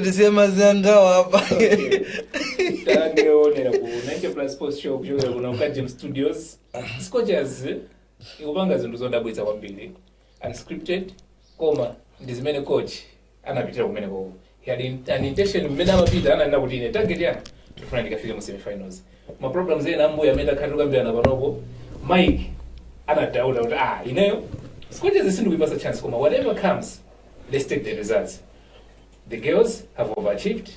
tisiye ma zinthu awo apa tangoonera ku 90 plus sports show kuchokera kuno ku Kajim studios scorchers ikupanga zinthu zodabwitsa kwambiri unscripted koma ndi zimene coach anapitira kumeneko he had in- an intention mmene amapita ananena kuti ine target yanga ndikufuna ndikafike mu semifinals ma problems ena ambuya amene takhala tikukambirana panopo mike anadauta kuti ah ineyo scorchers sindikuyipasa chance koma whatever comes let's take the results the girls have overachieved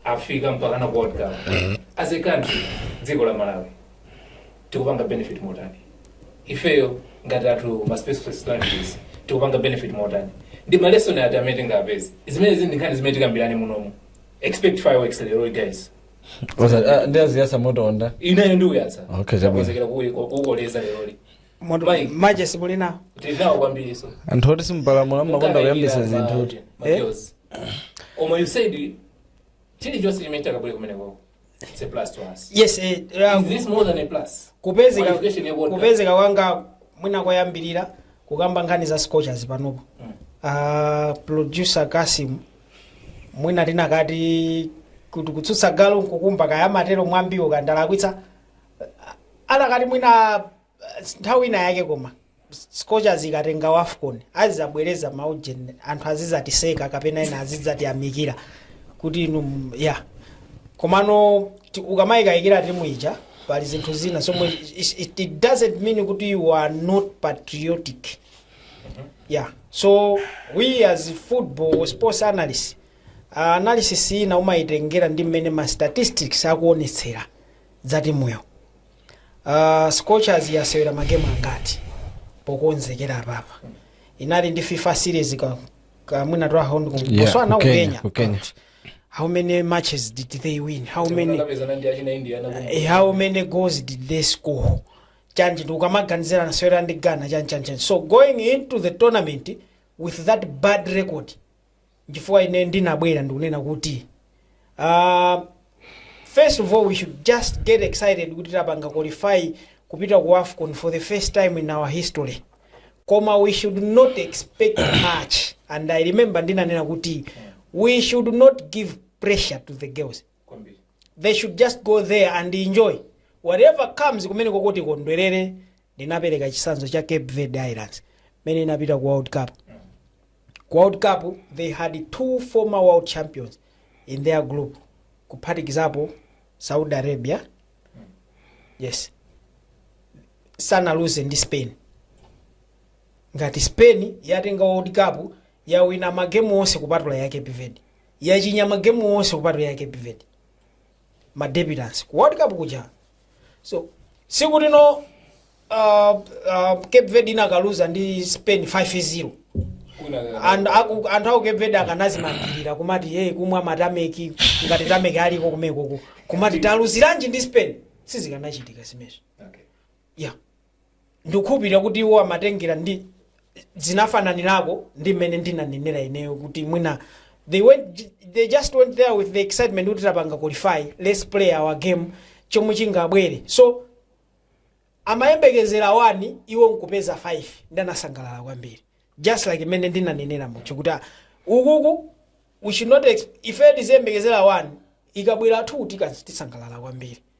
afika mpakana world cup as a country dziko la malawi tikupanga benefit motani ifeyo ngati athu ma specialist strategies tikupanga benefit motani ndi ma lesson ati amene tingapeze zimenezi ndi nkhani zimene tikambirane munomu expect fireworks lero guys ndiyaziyasa moto wonda inenso ndiuyatsa Okay, chabwino. Takonzekera kuyi- ku- kukoleza leroli Moto- Mike. maje simuli nawo tinawo kwambiri so anthu oti simupalamula mumakonda kuyambisa zinthu kuti koma you said chilichonse chimene takabwera kumenekoko It's a plus to us. yes eh, eh, Is this more than a plus? kupezeka Qualification ya World Cup. kupezeka kwanga mwina koyambirira kukamba nkhani za scorchers panopo Mm. Ah, producer kasim mwina tinakati kuti kutsutsa galu nkukumba kaya amatero mwambiwo ka ndalakwitsa Ah, anakati mwina nthawi ina yake koma scorchers ikatenga wafcon azizabwereza maujeni anthu azizatiseka kapena ena azizatiyamikira kuti inu m- ya komano ti- ukamayikayikira timu ija pali zinthu zina so it, it, it doesn't mean kuti you are not patriotic yeah so we as football sports analysts uh, analysis ina umayitengera ndi mmene ma statistics akuonetsera za timuyo Uh, scorchers yasewera magemu angati pokonzekera apapa inali ndi fifa series ka- kamwina twa hound Yeah, kuswana ku Kenya, kukenya ku Kenya. But how many matches did they win how many Anapezana ndi achina India na Eh, how many goals did they score chanji ndiye ukamaganizira inasewera ndi ghana chanji chanji chanji. so going into the tournament with that bad record nchifukwa ine ndinabwera ndikunena kuti uh, first of all we should just get excited kuti tapanga qualify kupita ku afcon for the first time in our history koma we should not expect much and i remember ndinanena kuti we should not give pressure to the girls kwambiri they should just go there and enjoy whatever comes kumene koko tikondwerere ndinapereka chisanzo cha cape verde islands mmene inapita ku world cup ku world cup they had two former world champions in their group kuphatikizapo saudi arabia yes sanaluze ndi spain ngati spain yatenga world cup yawina magemu onse kupatula ya cape verde yachinya magemu onse kupatula ya cape verde ma debutants ku world cup kuja so sikuti no uh, uh, cape verde inakaluza ndi spain 5-0 And aku- anthu a ku cape verde akanazimangirira kumati hey, kumwa matameki ngati tameki aliko kumeneko kumati taluziranji ndi spain sizikanachitika zimenezo yeah ndikukhulupirira kuti iwo amatengera ndi zinafananirako ndi mmene ndinanenera ineyo kuti mwina they went they just went there with the excitement kuti tapanga qualify let's play our game chomwe chingabwere so amayembekezera wani iwo nkupeza 5 ndi anasangalala kwambiri just like mmene ndinanenera muja kuti ah, ukuku we should not ex- ife tiziyembekezera wani ikabwera 2 tisangalala kwambiri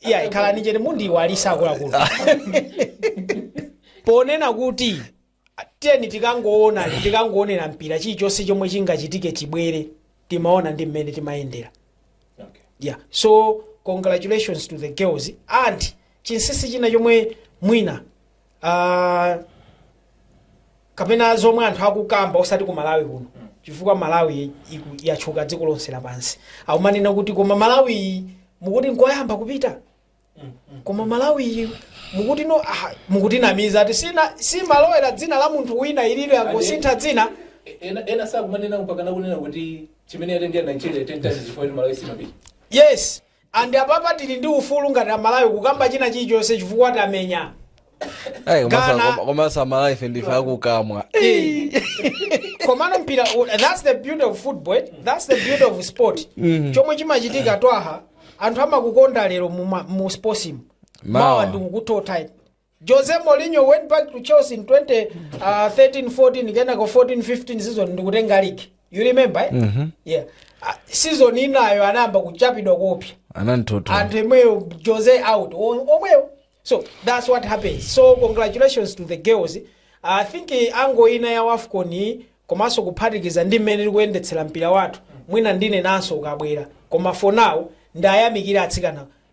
iya ikhala nijeni mundiwalitsa akuluakulu ponena kuti tiyeni tikangoona tikangoonera mpira chilichonse chomwe chingachitike chibwere timaona ndi mmene timayendera yeah so congratulations to the girls and chinsisi china chomwe mwina Ah, kapena zomwe anthu akukamba osati ku malawi kuno chifukwa malawi iku- yatchuka dziko lonse lapansi akumanena kuti koma malawi iyi mukuti nkoyamba kupita koma malawi iyi mukuti no ah, mukutinamiza ati sina simalowera dzina la munthu wina ililo yangosintha dzina ena ena sakumanena mpaka nakunena kuti chimene atengera nigeria ten times chifukwa kuti malawi simapita yes And apapa tili ndi ufulu ngati amalawi kukamba china chilichonse chifukwa tamenya Ai, koma sa- Ghana. koma- koma amalawife ndife apakamwa komano mpira u- that's the beauty of football eh? that's the beauty of sport chomwe chimachitika twaha anthu amakukonda lero mu ma- mu sportsimu Mawa. mawa ndikukutota iti Jose Mourinho went back to Chelsea in 2013 14 kenako 14 15 season ndikutenga league you remember eh? mm-hmm. yeah. Ah, season inayo anayamba kuchapidwa kopya anamutota anthu omwewo jose out o- omwewo so that's what happens so congratulations to the girls i think eh, angle ina ya wafcon iyi komanso kuphatikiza ndi mmene likuyendetsera mpira wathu mwina ndinenanso ukabwera koma for now ndiayamikire atsikana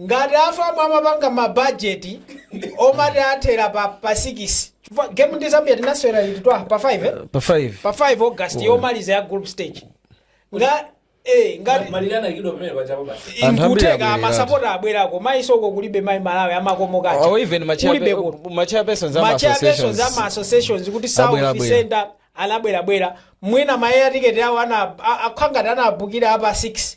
Ngati a FAM amapanga ma budget omati athera pa pa 6 chifukwa game ndi Zambia tinasewera liti Twaha pa 5 eh? pa 5 pa 5 August yomaliza ya group stage nga eh ngati malirana ikidwa pamene pachapo basi Anthu ambiri nkutheka abwerera. amasapota abwerako mayiso ko kulibe mayi malawi amakomokacha or even kulibe kuno machairpersons ama machairpersons za ma associations associations kuti Abwera, south abwera. center anabwerabwera mwina mayeya tiketi awo ana- a- akhala ngati anabukira apa 6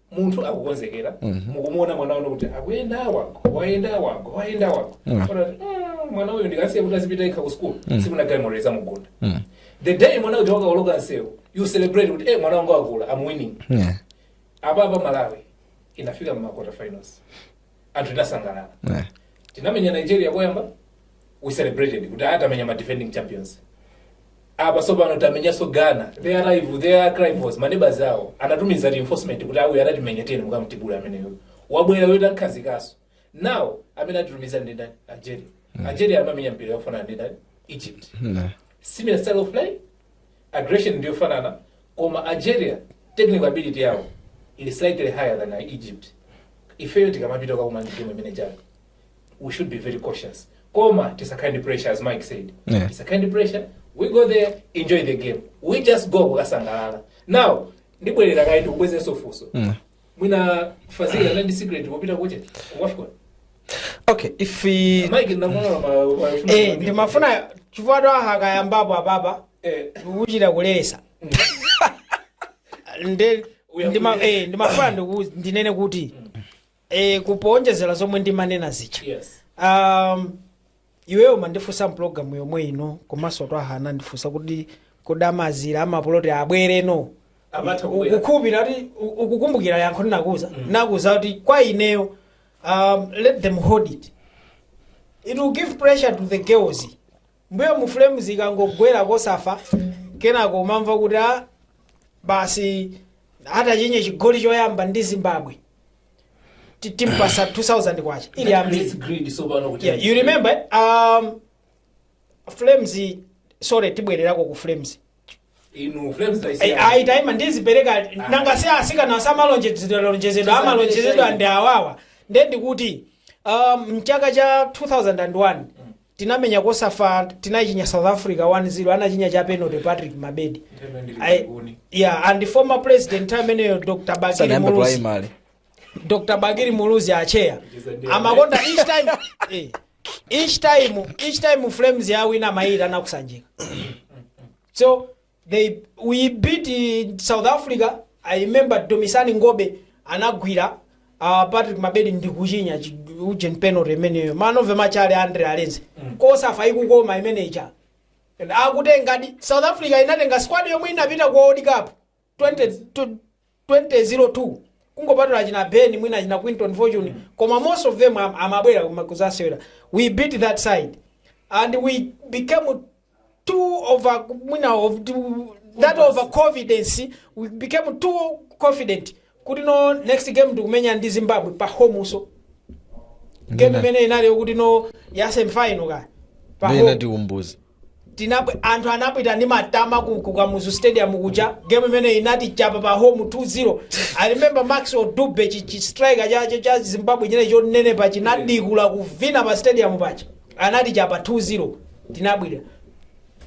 munthu akukonzekera mukumuona mwana wanu kuti akuyenda wangu wayenda wangu wayenda wangu Mm. Kona kuti, "Mm, mwana uyu ndikasiya kuti azipita yekha ku school tsiku lina galimoto izamugunda the day mwana uja wakaoloka nsewu you celebrate kuti eh mwana wanga akula am winning Yeah. apa apa malawi inafika mmakota finals anthu tinasangalala Eh. tinamenya nigeria koyamba we celebrated kuti aya tamenya ma defending champions apa sopano tamenyanso ghana their arch their arch rivals maneighbours awo anatumiza reinforcement kuti awa anatimenya tiyeni mukamtibule ameneyo wabwera weta amukhazikaso now amene atitumiza ndi ndani algeria algeria amamenya mpira yofanana ndi ndani egypt similar style of play Aggression ndiyofanana koma Algeria technical ability yawo ili slightly higher than Egypt. Ifeyo tikamapita kukakumana ndi timu imene ijayi. We should be very cautious. Koma tisakhale ndi pressure as Mike said. Yeah. Tisakhale ndi pressure. We go there, enjoy the game. We just go kukasangalala. Now, ndibwerera kaye ndikubwezeso funso. mwina fazili anali ndi secret wopita kuja kuwafika okay if we- mike ndinamuona ma ma- Eh, ndimafuna chifukwa Twaha akayambapo apapa eh nkuchita kulesa nde Uya ndima- kulesa. eh, ndimafuna ndiku- ndinene kuti eh, kupoonjezera zomwe ndimanena zija yes um, iweyo umandifunsa mpulogalamu yomwe ino komanso twaha anandifunsa kuti kodi aja azilira amapoloti abwere no Amatha kubwera. ukukhulupirira kuti u- ukukumbukira yankho ndinakuuza nakuuza kuti kwa ineyo um, let them hold it it will give pressure to the girls mbuyo mu flames ikangolowera kosafa kenako umamva kuti a basi atachinye chigoli choyamba ndi zimbabwe ti- timpasa 2000 kwacha ili ambiri It's greed so pano kuti yeah, you remember um, flames sorry tibwererako ku flames inu flames ayi taima ndizipereka nanga si asikana samalonjezedwa amalonjezedwa ndi awawa nde ndikuti um, mchaka cha 2001 Tinamenya kosafa tinayichinya south africa 1-0 anachinya cha penalty patrick mabedi I- yeah and former president nthawi imeneyo dr bakili muluzi dr bakili muluzi acheya amakonda each time eh, each time each time flames yawina amayilira nkusanjika so they we beat uh, south africa i remember dumisani ngobe anagwira uh, patrick mabedi ndikuchinya chi- ujeni penalty imeneyo man of the match ali andre arendse cosafa ikukoma imeneja And akutengadi south africa inatenga squad yomwe inapita ku world cup 20 tu- 2002 kungopatula achina benni mwina achina quinton fortune koma most of them am- amabwera kuma- kuzasewera we beat that side and we became too over mwina of too- that over confidence we became too confident kuti no next game tikumenya ndi zimbabwe pa home so game imene inali yokuti no ya semifinal ka pa Ndiye home. inatiumbuza Tinabwe, anthu anapita ndi matama ku, ku Kamuzu Stadium kuja game imene inatichapa pa home 2-0. I remember Max Odube chi, chi striker cha, cha, cha Zimbabwe china chonenepa chinadikula kuvina pa stadium paja. Anatichapa 2-0. Tinabwira.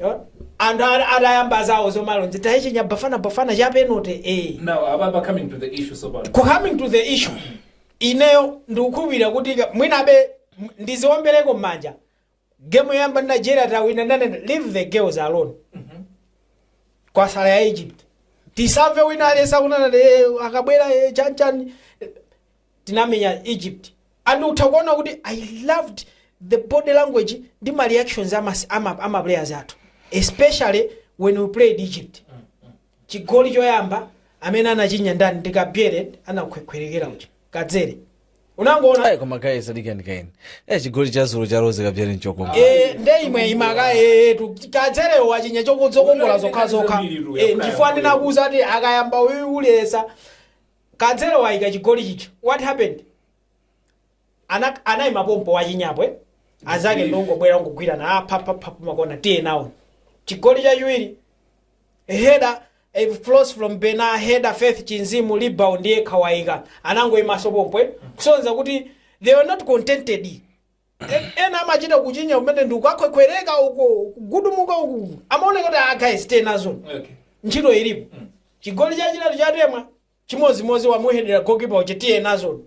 Yeah. Anthu ana- atayamba zawo zomalonje tayichinya bafana bafana cha penalty eh. Now, Ababa, coming to the issue, so bad. coming to the issue ineyo ndikukhulupirira kuti ka- mwinabe m- ndiziombeleko m'manja Game yoyamba ndi Nigeria tawina ndanena leave the girls alone. Kwatsala ya Egypt. Tisamve wina aliyense akunena kuti akabwera eh, chani chani tinamenya Egypt. And utha kuona kuti I loved the body language ndi ma reactions ama ama, ama players athu especially when we played Egypt. Chigoli choyamba amene anachinya ndani ndi Kabwere anakhwekhwerekera uja. Kadzere. Unangoona Hey, koma guys adikani kaye. Eh chigoli cha zulu cha Rose Kabwere nchokongola. Eh, nde imwe imaka eh, tu kadzerewo wachinya zokongola zokha zokha Eh, nchifukwa ndinakuuza ati akayamba uyu kuliza kadzero waika chigoli chicho what happened Anak anaima pompo wachinya phee azake Beef. nkungobwera nkungogwirana ah, pa, pa, pa, pa, makona tiye nawo chigoli chachiwiri header eh, flows from bena header faith chinzimu rebound ndiye kawaika anangoimaso pompo eh, kusonza kuti they were not contented En- ena amachita kuchinya kumene ndikukakhwekhwereka uko kugudumuka uku amaoneka kuti ah, guys tiye nazo Okay. ntchito ilipo chigoli chachitatu cha Temwa chimodzimodzi wamuhedera goalkeeper uja tiye nazoni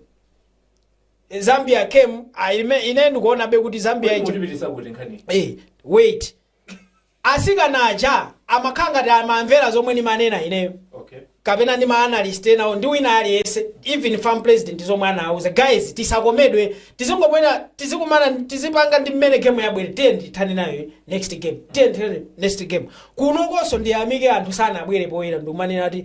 Eh, zambia came ah, ime- ine ndikuonabe kuti zambia Kodi ija mutipitisa kuti nkhani Eh, wait asikana aja amakhala ngati amamvera zomwe ndimanena ineyo okay kapena ndi maanalyst enawo ndi wina aliyense even FAM president zomwe anawuza guys tisakomedwe tizingomwera tizikumana tizipanga ndi mmene game yabwera tiyeni tithane nayo next game tiyeni tithane next game kunokonso ndiyamike anthu sanabwere poyera ndikumanena ati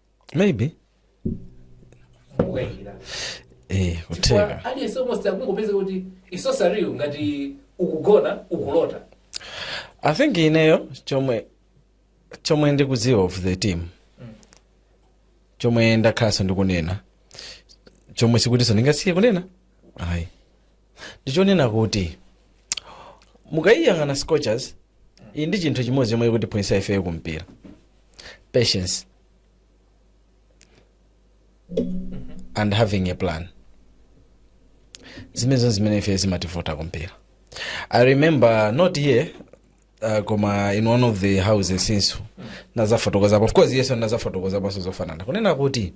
maybe kukayikira eh kutheka chifukwa aliyense almost akungopeza kuti ili so surreal ngati ukugona ukulota i think ineyo chomwe chomwe ndikudziwa of the team chomwe ndakhalanso ndikunena chomwe sikutinso ndingasiye kunena ayi ndichonena kuti mukayiyang'ana scorchers iyi ndi chinthu chimodzi chomwe chikutiphunzitsa ifeyo kumpira patience and having a plan zimenezo zimene ife zimativuta kumpira i remember not here uh, koma in one of the houses ndinadzafotokozapo of course yes ndinadzafotokozaponso zofanana kunena kuti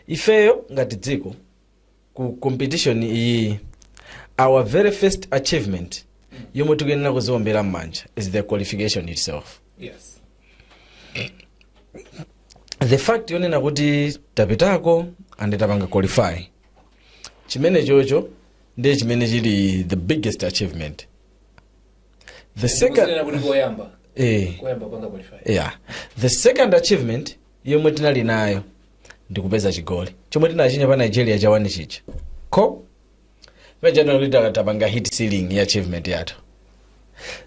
ifeyo ngati dziko ku competition iyiyi our very first achievement yomwe tikuyenera kuziombera m'manja is the qualification itself Yes. the fact yonena kuti tapitako and tapanga qualify chimenechocho ndiye chimene chili the biggest achievement the second Kuzinena kuti koyamba. eh, Koyamba kupanga qualify. yeah. the second achievement yomwe tinali nayo ndikupeza chigoli chomwe tinachinya pa nigeria cha wani chija so pajapa kuti ta- tapanga hit ceiling ya achievement yathu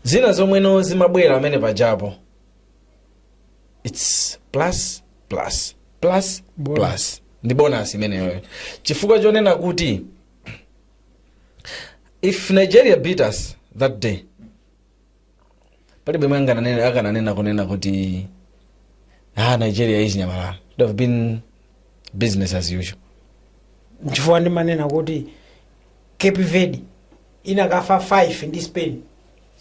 zina zomwe zimabwera pamene pajapo its plus plus plus Bonus. plus ndi bonus imeneyoyo chifukwa chonena kuti if nigeria beat us that day palibe amene akananena akananena kunena kuti ah nigeria yachinya malawi it would have been business as usual nchifukwa ndimanena kuti cape verde ikanafa 5 ndi spain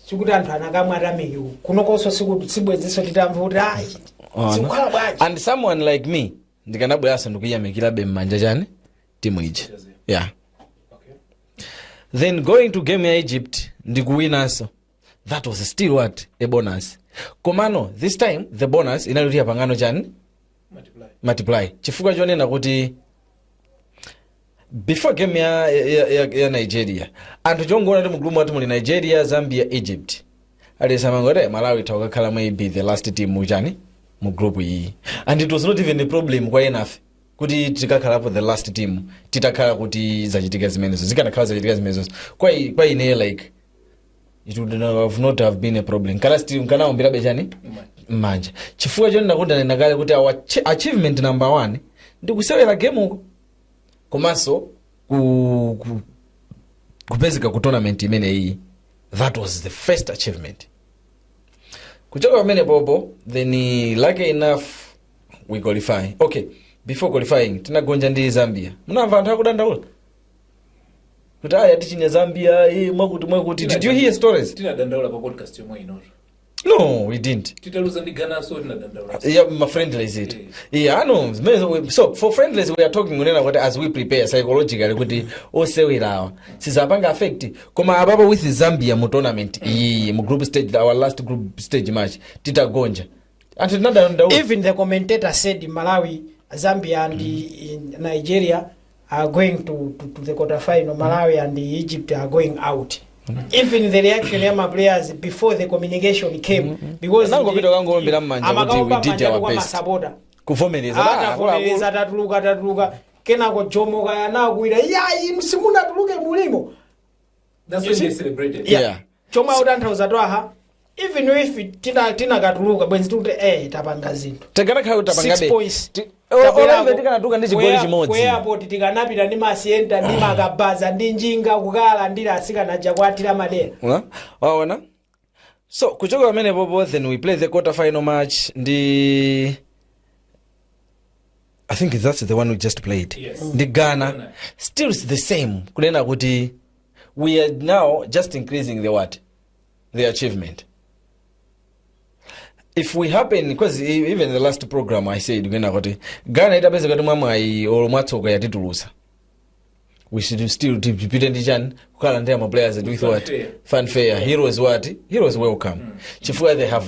sikuti anthu akanamwa tameki kunokonso sikuti sibwenzinso titamva kuti ayi Ona. sikukhala bwanji and someone like me ndikanabweranso ndikuyamikirabe mmanja chani timu ija yeah then going to game ya egypt ndikuwinanso that was still what a bonus komano this time the bonus inali kuti yapangano chani multiply chifukwa chonena kuti before game ya, ya, ya, ya nigeria anthu chongoona kuti mugulupumu akuti muli nigeria zambia egypt aliyense amangoti malawi itha kukakhala maybe the last team muchani mu group iyi and it was not even a problem kwa enafe kuti tikakhalapo the last team titakhala kuti zachitika zimenezo zikanakhala zachitika zimenezo kwa, i- kwa ine like it would not have, not have been a problem ndikana still ndikanaomberabe chani mmanja chifukwa choti ndakunenani kale kuti our ch- achievement number one ndi kusewera game uko komanso ku, ku, kupezeka ku tournament imeneyi that was the first achievement kuchoka pamenepopo then eh, lucky enough we qualify okay before qualifying tinagonja ndi zambia munamva anthu akudandaula kuti aya tichinya zambia eh, mwakuti mwakuti did you hear stories tinadandaula pa podcast yomwe inotu no we didn't titaluza ndi ghananso tinadandaula yeah, ma friendlies it yeah, i know zimene- we- so for friendlies we are talking kunena kuti as we prepare psychologically kuti osewerawa sizapanga affect koma apapo with zambia mu tournament iyiyi mu group stage our last group stage match titagonja anthu tinadandaula even the commentator said malawi zambia and nigeria are going to, to, to the quarter final malawi and egypt are going out even the reaction ya maplayers before the communication came because Anangopita kangoombera m'manja kuti amakaomba we did m'manja our kwa best. masapota kuvomereza Ah, atavomereza atatuluka atatuluka kenako jomo kaya anakuwira yayi simunatuluke mulimo That's when they celebrated. Yeah. Yeah. chomwe akutanthauza twaha even if tina- tinakatuluka bwenzi tikuti eh tapanga zinthu tikanakhala kuti tapanga Six be- points. ti- o- Tabwerako. olambe tikanatuluka ndi chigoli Kwe- chimodzi ku airport tikanapita ndi masiyenta ndi makabaza ndi njinga kukalandira asikana aja kuatira madera Huh? waona so kuchoka pamene popo then we play the quarter final match ndi i think that's the one we just played Yes. ndi ghana still it's the same kunena kuti we are now just increasing the what the achievement if we happen because e- even the last program i said kunena kuti ghana itapezeka kuti mwamwayi olo mwatsoka yatitulusa we should still tipite ndi chani kukalandira ma players with what Fanfare. fanfare heroes what heroes welcome chifukwa they have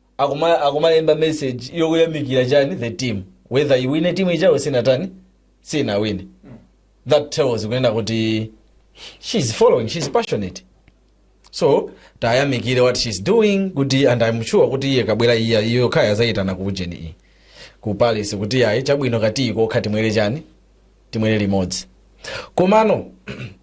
akuma akumalemba message yokuyamikira chani the team whether iwine timu ijayo sinatani sinawine that tells kunena kuti she's following she's passionate so tayamikire what she's doing kuti and i'm sure kuti iyi ikabwera iya iyo kaya azayitana ku ujeni iyi ku palace kuti ayi chabwino katiyi kokha timwere chani timwere limodzi komano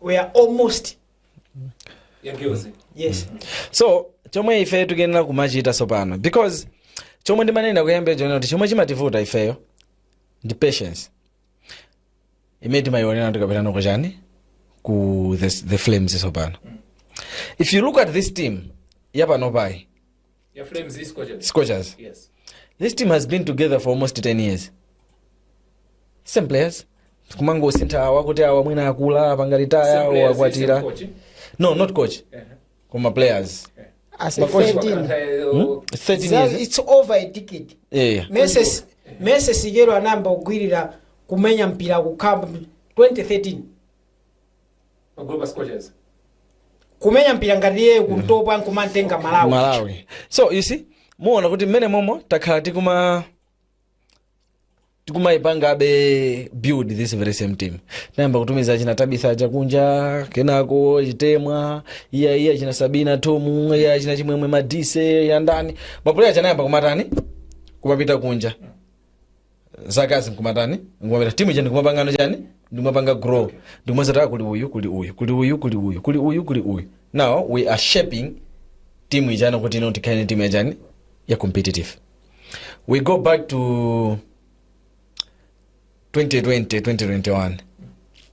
we are almost Yagiose. yes so chomwe ife tikuyenera kumachita tsopano because chomwe ndimanena kuyambira chonena kuti chomwe chimativuta ifeyo ndi patience imene timayionera tikapita nako chani ku the, the flames tsopano if you look at this team yapanopayi Your flames is Scorchers. Scorchers. Yes. This team has been together for almost 10 years. Same players. kumangosintha awa kuti awa mwina akula apanga retire Same awa players, akwatira same coach. no not coach Uh-huh. koma players As a Makochi 13. wakataya- Hmm? 13 Za- years It's over a decade. yeah. Mese Mese Sigero anayamba kugwirira kumenya mpira kukamba 2013. kumenya mpira ngati iyeyo ku ntopwa nkumamtenga malawi malawi so you see muona kuti mmene momo takhala tikuma tikumayipangabe build this very same team tinayamba kutumiza achina tabitha aja kunja kenako chitemwa iya iya achina sabina thom iya achina chimwemwe madise yandani mapulaya aja anayamba kumatani kumapita kunja zakazi nkumatani nkumapita timu ija ndikumapangano chani ndikumapanga grow ndikumazataka kuli uyu kuli uyu kuli uyu kuli uyu kuli uyu kuli uyu now we are shaping timu ijana kuti ino tikhale ni timu yachani ya competitive we go back to 2020 2021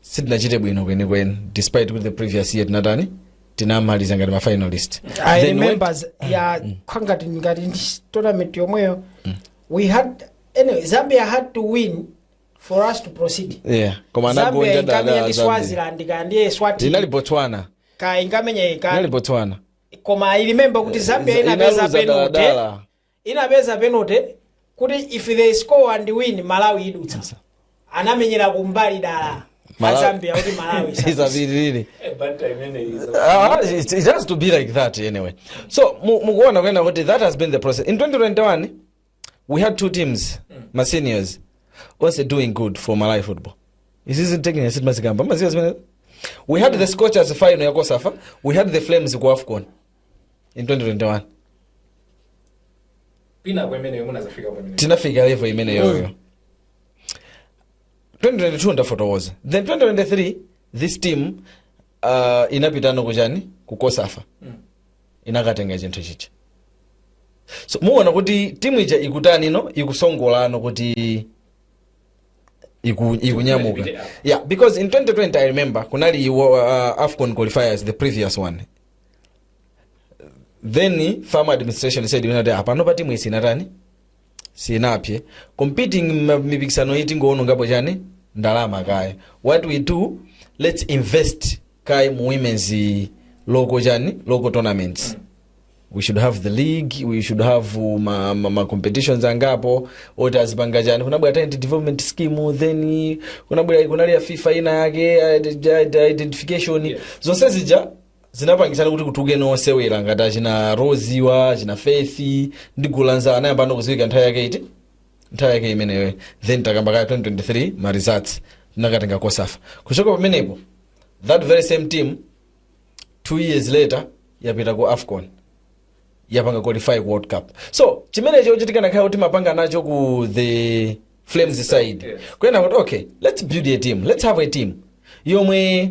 sitinachite bwino kwenikweni despite kuti the previous year tinatani tinamaliza ngati ma finalist Then remember as- ya kwangati ngati ndi tournament yomweyo we had anyway, zambia had to win for us to proceed when- yeah koma zambia anagonja inkamenya ndi dala zambia swaziland kapena ndi inali eswatini botswana ka inkamenya inali ka botswana koma i remember kuti zambia Ina- inapeza inaluza penalty daladala. inapeza penalty kuti if they score and win malawi idutsa anamenyera kumbali dala Malawi- azambia kuti malawi isapite. isapitirire Eh, banta imene iza. Ah, it, it has to be like that anyway so mu- mukuona kunena kuti that has been the process in 2021 we had two teams ma seniors onse doing good for malawi football this is taking a seat mukukamba mukudziwa zimene we had the scorchers final ya cosafa we had the flames ku afcon in 2021 pina kwa imeneyo munadzafika kwa imeneyo tinafika level imeneyoyo 2022 ndafotokoza then 2023 this team uh, inapitano kujani ku cosafa inakatenga chinthu chija so muona kuti timu ija ikutani no ikusongolano kuti iku, ikunyamuka Ikupita. yeah because in 2020 i remember kunali uh, afcon qualifiers the previous one then fam administration said inati panopa pa timu isinatani isinapite competing ma- mipikisano iyi tingoonongapo chani ndalama kaya what we do let's invest kaye mu women's local chani local tournaments we should have the league we should have uh, ma, ma, ma competitions angapo oti azipanga chani kunabwera talent development scheme then kunabwera kunali ya fifa ina yake ide- ide- identification zonse zija zinapangitsani kuti kutulukeno osewera ngati achina rose wa achina faith ndi gulu la nzawo anayambano kudziwika nthawi yake iti nthawi yake imeneyo then takamba kaya 2023 ma results tinakatenga cosafa kuchoka pamenepo that very same team two years later yapita ku afcon yapanga qualify ku world cup so chimenecho chikanakhala kuti mapanga nacho ku the flames side Yes. kunena kuti okay let's build a team let's have a team yomwe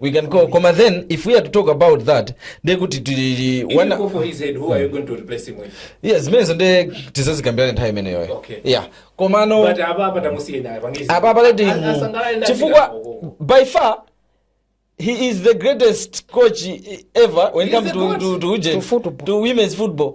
we can go koma then if we are to talk about that nde kuti tili If you wana go for his head, who are you going to replace him with? yeah zimenezo nde tizazikambirana nthawi imeneyoyo Okay. yeah komano But apa apa tamusiye naye pangizi. apa paleti As- asangalale ndafika chifukwa huko. by far he is the greatest coach ever when it He is comes the to, goat. to, to, ujeni, To football. to women's football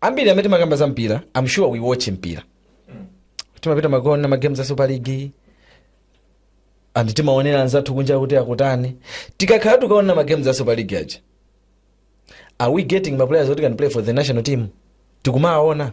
ambiri amene timakamba za mpira i'm sure we watch mpira timapita kukaona magame za super league and timaonera anzathu kunja kuti akutani tikakhala tukaona magame za super league aja are we getting maplayers that can play for the national team tikumaona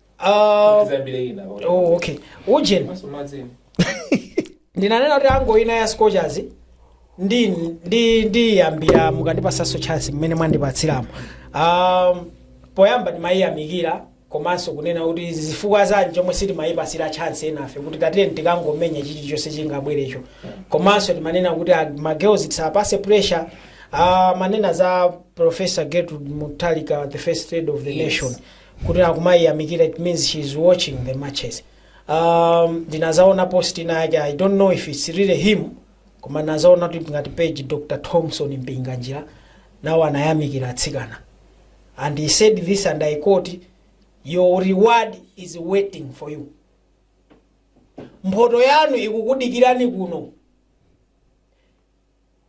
Ah, tizambire ina pakuti- oh, okay ujeni Maso madzeni. ndinanena kuti angle ina ya scorchers ndi ndi ndiyambira mukandipasanso chance mmene mwandipatsiramo um, poyamba ndimayiyamikira komanso kunena kuti zifukwa zanji chomwe sitimayipasira chance enafe kuti tatire tikangomenya chilichonse chingabwerecho komanso timanena kuti ah, ma girls tisapase pressure uh, manena za professor gertrude mutharika the first lady of the Yes. nation kuti akumayiyamikira it means she is watching the matches um, ndinazaona post ina yake i don't know if it's really him koma nazaona kuti ngati page dr thomson mpinganjira nawo anayamikira atsikana and he said this and i quote your reward is waiting for you mphoto yanu ikukudikirani kuno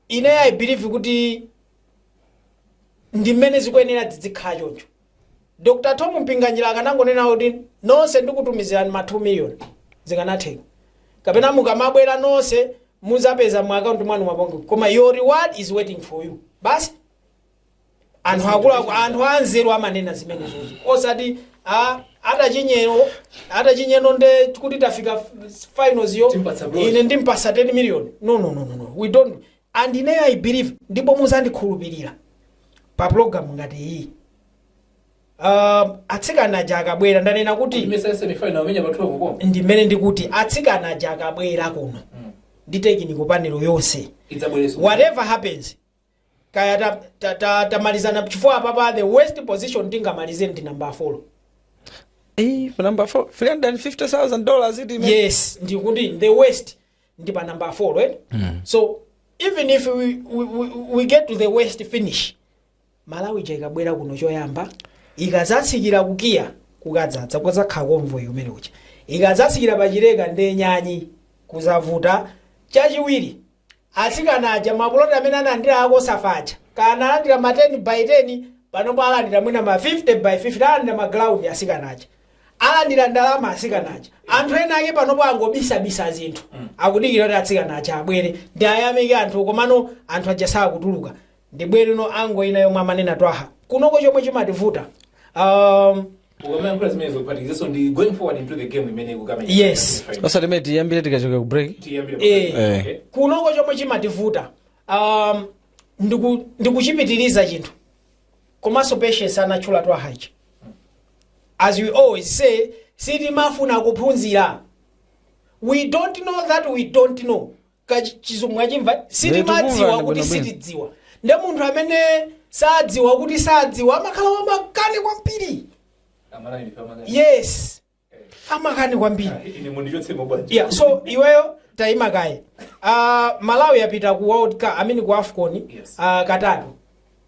ine i believe kuti ndi mmene zikuyenera zidzikhala choncho dr tom mpinganjira akanangonena kuti nonse ndikutumizirani ma 2 million zikanatheka kapena mukamabwera nonse muzapeza mu akaunti mwanu mwapongo koma your reward is waiting for you basi anthu akuluakulu anthu anzeru amanena zimenezozo osati a- atachinyero atachinyero nde kuti tafika f- finals yo Timpatsa bronze. ine ndimpasa 10 million no no no no no we don't and ine i believe ndipo muzandikhulupirira pa program ngati iyi uh, atsikana aja akabwera ndanena kuti imesa semifinal amenya pathu akukoma ndimene ndikuti atsikana aja akabwera kuno ndi technical panel yonse idzabwereso whatever happens kaya ta, ta, ta, tamalizana chifukwa apapa the worst position tingamalize ndi number 4 Eh, for number four, three hundred and fifty thousand dollars. It means. yes ndikuti the worst ndi pa number 4 right mm. so even if we, we, we, we get to the worst finish malawi ija ikabwera kuno choyamba ikazatsikira ku kia kukadzadza kuzakhala convoy kumene kucha ikazatsikira pa chileka ndenyanyi kuzavuta chachiwiri Atsikana aja ma plot amene analandira a cosafa aja kaya analandira ma 10 by 10 panopa alandira mwina ma 50 by 50 alandira ma ground asikana aja alandira ndalama asikana aja anthu ena ake panopo angobisabisa zinthu akudikira kuti atsikana aja abwere ndi ayamike anthu komano anthu aja sakutuluka ndibwereno angle ina yomwe amanena twaha kunoko chomwe chimativuta um, ukamayankhula zimenezo kuphatikizaso ndi going forward into the game imene ikukamenya Yes. osati mene tiyambire tikachoka ku break Eh, Eh. kunoko chomwe chimativuta um, ndiku- ndikuchipitiriza chinthu komanso patience anatchula twaha aja as we always say sitimafuna kuphunzira we don't know that we don't know ka chi- chizungu mwachimva Ndikukumva sitimadziwa ndi kuti bwinobwino. sitidziwa nde munthu amene sadziwa kuti sadziwa amakhala wamakani kwambiri yes amakani kwambiri yeah, so iweyo taima kaye uh, malawi yapita ku world cup I mean ku afcon Yes. uh, katatu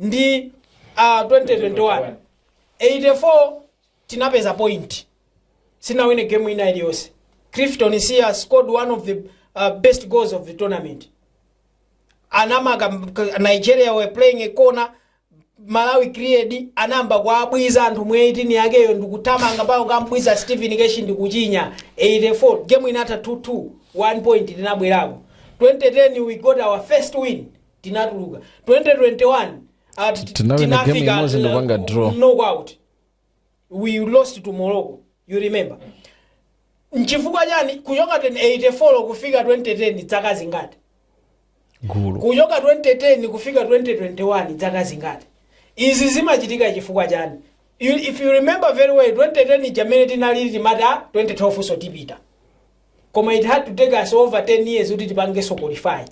ndi uh, 2021 84 tinapeza point sinawine game ina iliyonse clifton msiya scored one of the uh, best goals of the tournament anamaka nigeria were playing a corner malawi create anayamba kuabwiza anthu mu 18 yakeyo ndikuthamanga mpaka kumbwiza stephen keshi ndikuchinya 84 game inatha 22 1 point tinabwerako 2010 we got our first win tinatuluka 2021 at Tinawina game imodzi ndopanga draw. knockout we lost to morocco you remember nchifukwa chani kuchoka 84 kufika 2010 dzaka zingati gulu kuchoka 2010 kufika 2021 dzaka zingati izi zimachitika chifukwa chani You- if you remember very well 2010 ija amene tinali timati 2012nso tipita koma it had to take us over 10 years kuti tipangenso qualify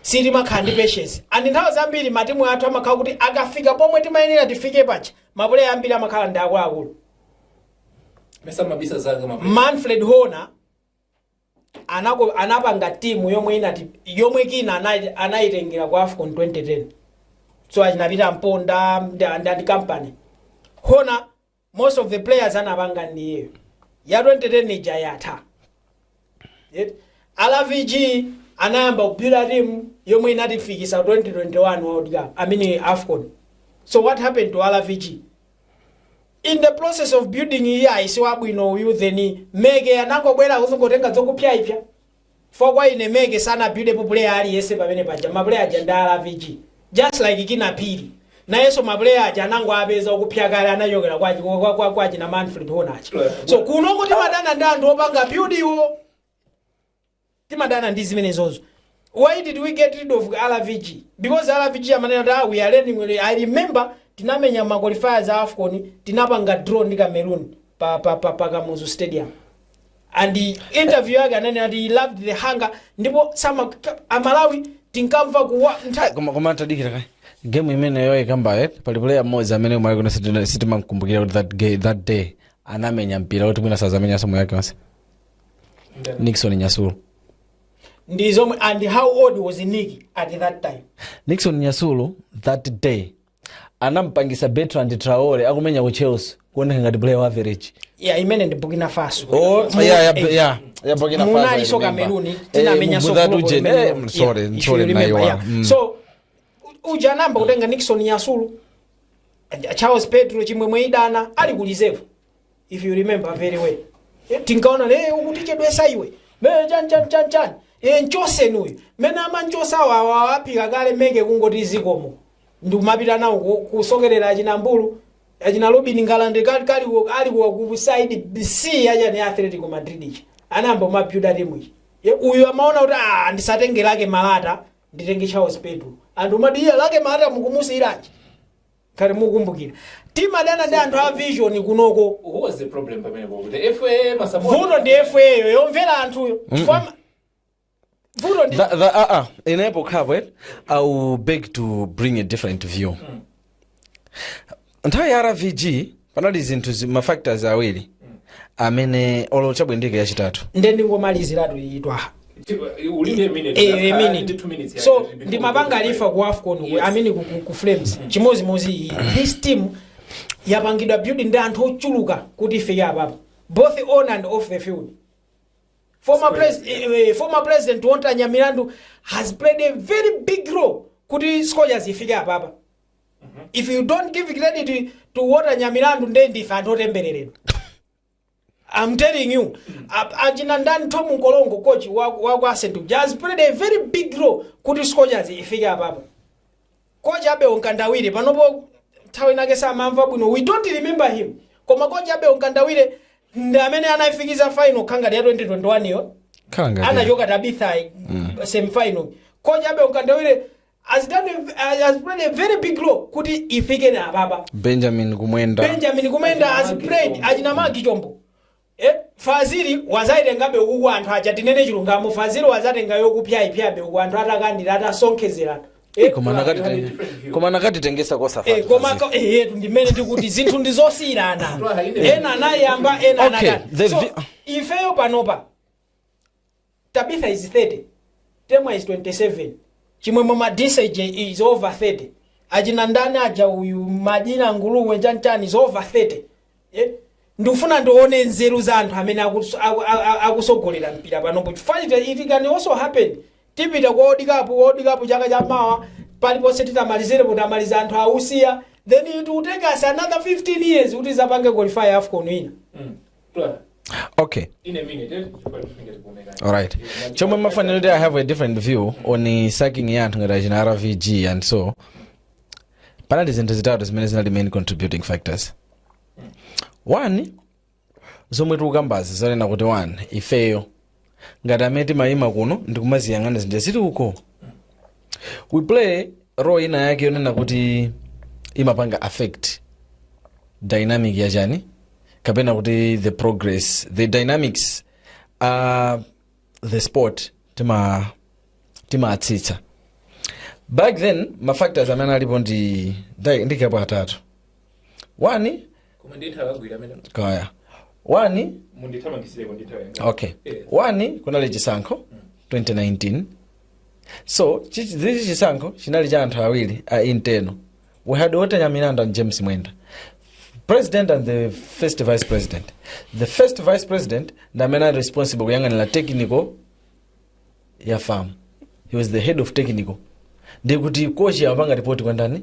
sitimakhala ndi patience and nthawi zambiri matimu athu amakhala kuti akafika pomwe timayenera tifike pacha mapuleya ambiri amakhala ndi akuluakulu mesa mabisa zake mabisa manfred hona anapanga timu yomwe inati yomwe kina anayitengera ku afcon 2010 so achina peter mponda ndi ndi company hona most of the players anapanga ndiyeyo ya 2010 ija yatha Yet, rvg anayamba kubyuda timu yomwe inatifikisa 2021 world cup I mean afcon so what happened to rvg in the process of building iye ayi siwabwino uyu then meke anangobwera kuzingotenga zokupsaipsa for kwa ine meke sanabyudepo puleya aliyese pamene paja mapuleya aja ndi a rvg just like kina phiri nayeso mapuleya aja anangoapeza okupsa kale anachokera kwa, kwa, kwa, kwa, kwa achina manfred hona so kunoku timadana ndi anthu opanga byudiwo timadana ndi zimenezozo why did we get rid of rvg because rvg amanena kuti ah, we are learning with it." i remember tinamenya ma qualifiers a afcon tinapanga draw ndi cameroon pa, pa, pa, pa kamuzu stadium and interview yake ananena kuti he loved the hunger ndipo amalawi tinkamva kuwa ntha- koma koma tadikira kaye game imeneyo ikambaye pali player mmodzi amene kumalawi kuno sitina- sitimamkumbukira kuti that, ga- that day anamenya mpira kuti mwina sazamenyaso moyo wake onse nixon nyasulu ndi zomwe and how old was Nick at that time nixon nyasulu that day anampangisa Bertrand Traore akumenya ku Chelsea kuoneka ngati player wa average ya imene ndi burkina faso Oh, Mu- yeah, yeah, eh, yeah. Yeah, Burkina Faso, I munalinso remember. kameruni Eh, tinamenyanso Mugudha group Tuje, limene- eh, yeah, sorry, if you sorry, remember, naiwa. yeah. Mm. so u- uja anayamba kutenga nixon yasulu and charles pedro chimwemwe idana ali ku reserve if you remember very well Eh, tinkaona le ukutichedwetsa iwe mene chani chani chani chani e nchotseni uyu mene amanchotsa wawa apika kale menge kungoti zikomo ndikumapita nawo ku- kusokerera achina mbulu achina robin ngalande kali kali wo- ali wa ku side c achani ya atletico madrid ichi anayamba kumabyuda timu ichi Ye, uyu amaona kuti ah ndisatenge lake malata nditenge charles pedro anthu umati iye lake malata mukumusiyiranji ngati mukumbukira timadana ndi anthu a vishoni kunoko Who was the problem pamenepo? The FA masapota. vuto ndi efeyo yomvera anthuyo chifukwa ma- vuto ndi That, that, uh, uh, in apo Khabo, eh, I will beg to bring a different view. Nthawi ya RVG panali zinthu zi- ma factors awiri amene olo chabwendeke yachitatu nde ndingomaliziratu iyi twaha ulinde minute Eh, Ndakhala minute. ndi two minutes so yake. ndimapanga refer ku afcon ku- i mean ku, ku, ku flames chimozimozi iyi this team yapangidwa build ndi anthu ochuluka kuti ifike apapo both on and off the field former, pres eh, eh, former president Walter Nyamilandu has played a very big role kuti scorchers ifike apapa if you don't give credit to Walter Nyamilandu nde ndife anthu otembereredwa I'm telling you, a- achina ndani Tom Mkorongo coach wa wa kwa Ascent has played a very big role kuti Scorchers ifike apapo. Coach Abel Mkandawire panopo nthawi inake samamva bwino. We don't remember him. Koma coach Abel Mkandawire ndi amene anaifikiza final khala ngati ya 2021 yo. khala ngati Anachoka Tabitha mm. semi final. Coach Abel Mkandawire has done a, uh, has played a very big role kuti ifike na apapa benjamin kumwenda benjamin kumwenda has played achina magi chombo eh, fazili wadzaitengabe ukuku anthu aja tinene chilungamo fazili wadzatenga yokupsyaipsyabe uku anthu atakandira atasonkhezerana Eh, koma anakatitenge- koma anakatitengetsa kosafa Eh, koma ka- eh, yetu ndimene tikuti zinthu ndizosiyirana ena anayamba ena Okay, anakati. the So, vi- ifeyo panopa Tabitha is 30 temwa is 27 chimwemwe madise j is over 30 achina ndani aja uyu madina nguluwe chanchani is over 30 eh? ndikufuna ndione nzeru za anthu amene akuso- aku- a- a- akutsogolera mpira panopo chifukwa ita- it can also happen tipita kwa world cup world cup chaka cha mawa paliponse titamalizire kuti amaliza anthu ausiya then it will take us another 15 years kuti tidzapange qualify afcon ina okay alright chomwe ndimafuna kuti i have a different view on sacking ya anthu ngati achina rvg and so panali zinthu zitatu zimene zinali main contributing factors one zomwe tikukambazi zonena kuti one ifeyo ngati amene timayima kuno ndikumaziyang'ana zinthu zili uko we play role ina yake yonena kuti imapanga affect dynamic ya chani kapena kuti the progress the dynamics uh, the sport tima timatsitsa back then mafactors amene alipo ndi ndi- ndikapo atatu 1 koma ndi nthawi yagwira amene kaya 1 mundithamangisireko ndi nthawi yanga okay Eh. 1 kunali chisankho 2019 so chi- zichi chisankho chinali cha anthu awiri a internal we had walter nyamilandu and james mwenda president and the first vice president the first vice president ndi amene ali responsible kuyang'anira technical ya fam he was the head of technical ndikuti kochi amapanga ripoti kwa ndani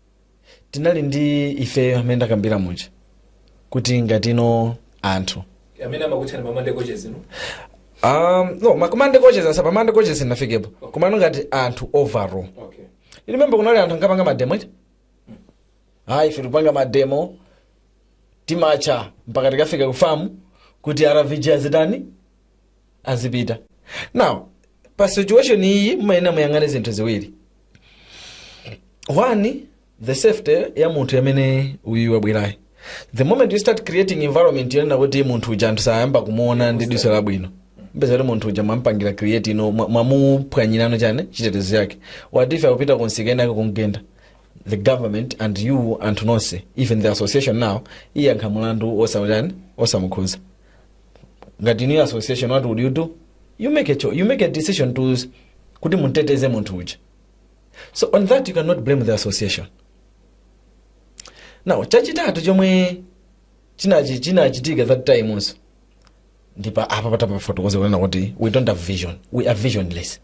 tinali ndi ifeyo amene ndakambira muja kuti ngati inu anthu amene amakutchani ma monday coaches inu um, no ma koma monday coaches asa pa monday coaches sindinafikepo komano ngati anthu overall okay remember kunali anthu ankapanga mademo eti ayi ife tikupanga mademo timatcha mpaka tikafika ku fam kuti rvg azitani azipita now pa situation iyi mumayenera muyang'ane zinthu ziwiri one the safety ya munthu amene uyu wabwerayo the moment you start creating environment yonena kuti munthu uja anthu sayamba kumuona ndi diso labwino mupeza kuti munthu uja mwampangira create ino mwa- mwamuphwanyirano chani chitetezo chake what if akupita kunsika ena ake kumgenda the government and you anthu nonse even the association now iyankha mulandu osamuchani osamukhuza ngati new association what would you do you make a, cho- you make a decision to s- kuti mumteteze munthu uja so on that you cannot blame the association now chachitatu chomwe chinachi- chinachitika that time also ndipa apa patapafotokoza kunena kuti we don't have vision we are visionless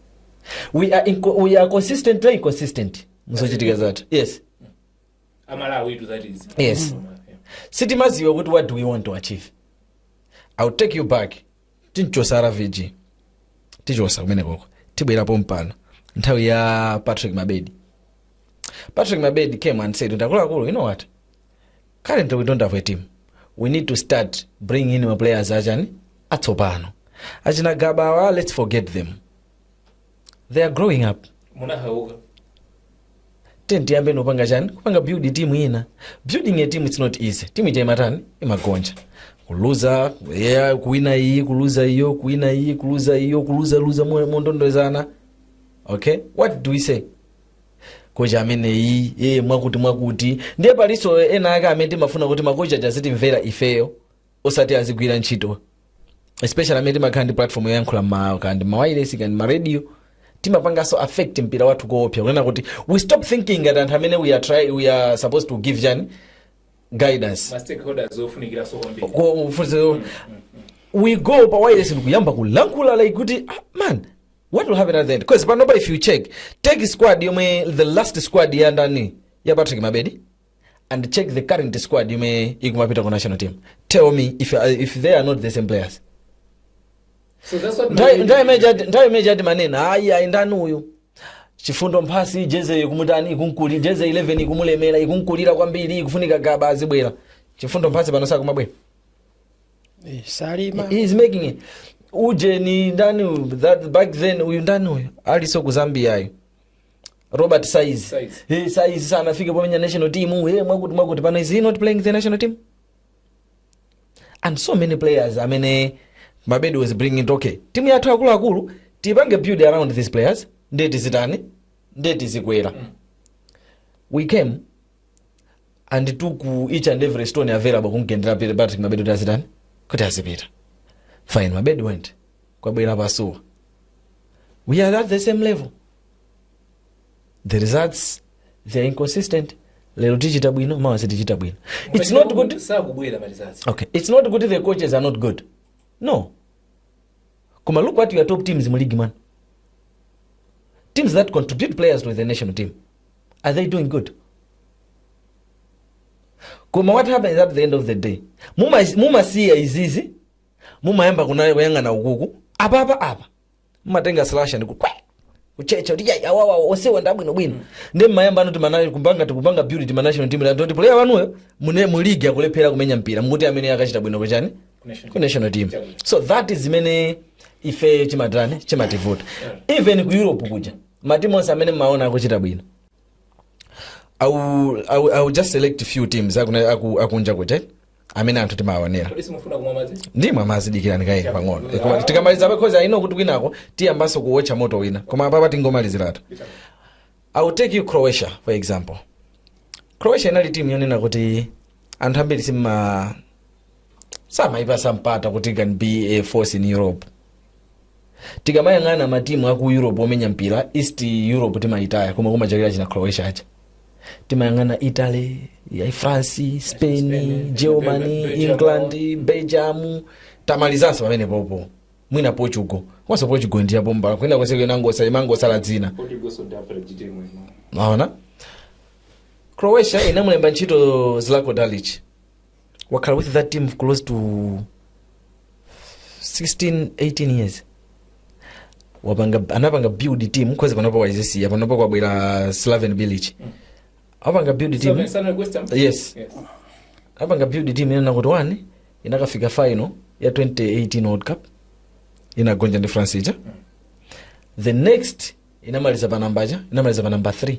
we are, inco- we are consistently inconsistent muzochitika zathu yes amalawitu that is Yes. sitimaziwe kuti what do we want to achieve ill take you back tinchosa ravg tichosa kumene koko tibwerapo mpano nthawi ya patrick mabedi patrick mabedi came and said ndakuluakulu you know what currently we don't have a team we need to start bringing in maplayers achani atsopano achina gabawa let's forget them they are growing up munahauka then tiyambeno kupanga chani kupanga build team ina building a team it's not easy team ija imatani imagonja kuluza yeah, kuwina iyi kuluza iyo kuwina iyi kuluza iyo kuluza luza mo- mondondozana okay what do we say kochi ameneyi ee mwakuti mwakuti ndiye palinso ena ake amene timafuna kuti makochi aja azitimvera ifeyo osati azigwira ntchito especially amene timakhala ndi platform yoyankhula ma kaya ndi mawayilesi kaya ndi maradio timapanganso affect mpira wathu koopsa kunena kuti we stop thinking ngati anthu amene we are, try, we are supposed to give chani guidance ma stakeholders ofunikiranso kwambiri Ko- funzo- we go pa wayilesi ndikuyamba kulankhula like kuti ah, man what will happen at the end because panopa if you check take squad yomwe the last squad ya ndani ya patrick mabedi and check the current squad yomwe ikumapita ku national team tell me if, uh, if they are not the same players So that's what Nthawi- nthawi imene chati- nthawi imene chati manena ayi ayi ndani uyu chifundo mphasi jeze ikumutani ikumkulira jeze 11 ikumulemera ikumkulira kwambiri ikufunika Gaba azibwera Chifundo Mphasi pano sakumabwera Eh, salima He is making it. ujeni ndani uyu? that back then uyu ndani uyu aliso ku Zambia ayo Robert Saizi Saizi. hey, Saizi sanafike pomenya national team hey, mwakuti mwakuti pano is he not playing the national team and so many players amene Mabedi was bringing okay timu yathu akuluakulu tipange build around these players nde tizitani nde tizikwera we came and to ku each and every stone available kumgendera Peter Patrick mabedi kuti azitani kuti azipita fine mabedi went kwabwera pasuwa we are at the same level the results they are inconsistent lero tichita bwino mawa sitichita bwino it's not good sakubwera malizazi okay it's not good the coaches are not good no koma look what your top teams mu league man teams that contribute players to the national team are they doing good koma what happens at the end of the day Muma- mumasiya izizi mumayamba kuna- kuyang'ana ukuku apapa apa mumatenga slasha ndi kukwe- kuchecha kuti yayi awawa onsewa ndi abwinobwino nde mmayamba no timafuna kupanga tikupanga build team ya national team ndoti player wanuyo mu- mu league akulephera kumenya mpira mukuti ameneyo akachita bwino kuchani ku national team so that is imene ife chimatani chimativuta even ku Europe kuja matimu onse amene mmaona akuchita bwino I will, I will, I will just select few teams akuna- aku- akunja kuti amene anthu timawaonera kodi simufuna kumwa madzi ndimwa madzi dikirani kaye pang'ono Eh, koma tikamaliza because I know kuti kwinako tiyambanso kuwotcha moto wina koma apapa tingomaliziratu I will take you Croatia for example Croatia inali timu yonena kuti anthu ambiri simma samayipasa mpata kuti can be a force in Europe tikamayang'ana matimu aku Europe omenya mpira East Europe timayitaya koma kumachakira china Croatia aja timayang'ana Italy France Spain Germany England Belgium tamalizanso pamenepopo mwina Portugal komanso Portugal ndi yabomba kwina konse kuyena ngosa imangosala dzina Portugal South Africa team ino mwaona Croatia inamulemba ntchito Zlatko Dalic wakhala with that team close to 16 18 years wapanga anapanga build team kuzeni panopo waisiya panopo kwabwera Slaven Bilic apanga build team Slaven, Slaven, West Ham? Yes. Yes. apanga build team yonena kuti one inakafika final ya 2018 World Cup inagonja ndi France ija the next inamaliza pa namba cha inamaliza pa namba 3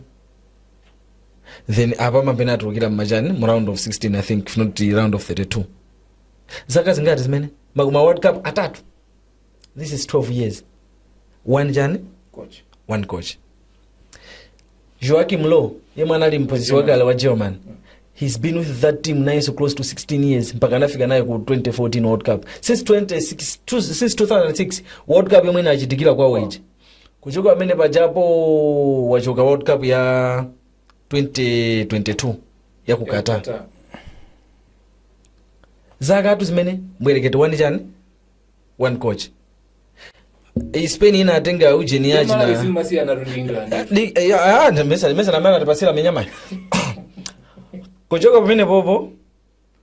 then apa kapena atulukira mmachani mu round of 16 I think if not round of 32 zaka zingati zimene ma- ma World Cup atatu this is 12 years one chani coach one coach Joachim Low yemwe anali mphunzitsi wakale wa German he's been with that team nayenso close to 16 years mpaka anafika nayo ku 2014 World Cup since 26 tu- since 2006 World Cup yomwe inachitikira kwawo ija kuchoka pamene pajapo wachoka world cup ya 2022 ya ku qatar zaka two zimene mbwerekete wani chani one coach Eh, spain ina atenga ujeni ija zimasiyana ndi england Li- eh, ya- ah, ndi mesa- mesa na mara atipasira minyama kuchoka pamene popo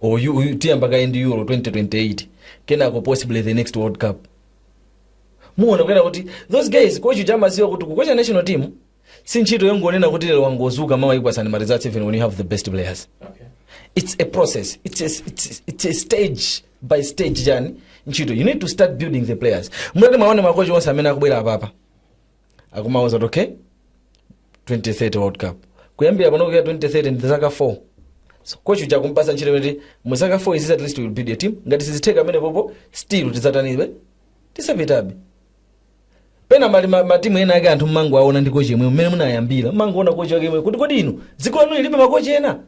or you, you tiyambe kaye ndi euro 2028 kenako possibly the next world cup muona kunena kuti those guys kochi uja amaziwa kuti kukocha national team si ntchito yongonena kuti lero wangozuka mawa ukupatsani ma results even when you have the best players Okay. it's a process it's a, it's, it's a stage by stage journey ntchito you need to start building the players mutati muwaone makochi onse amene akubwera apapa akumauza kuti okay 2030 world cup kuyambira pano kuyambira 2030 ndi zaka 4 so kochi uja kumpasa ntchito kuti mu zaka 4 izi at least will build a team ngati sizitheka pamene popo still tizatanibe tisapitabe pena mali ma- matimu ena ake anthu mmango aona ndi kochi yemweyo mmene munayambira mmango ona kochi wake yemweyo kuti kodi inu dziko lanu lilibe makochi ena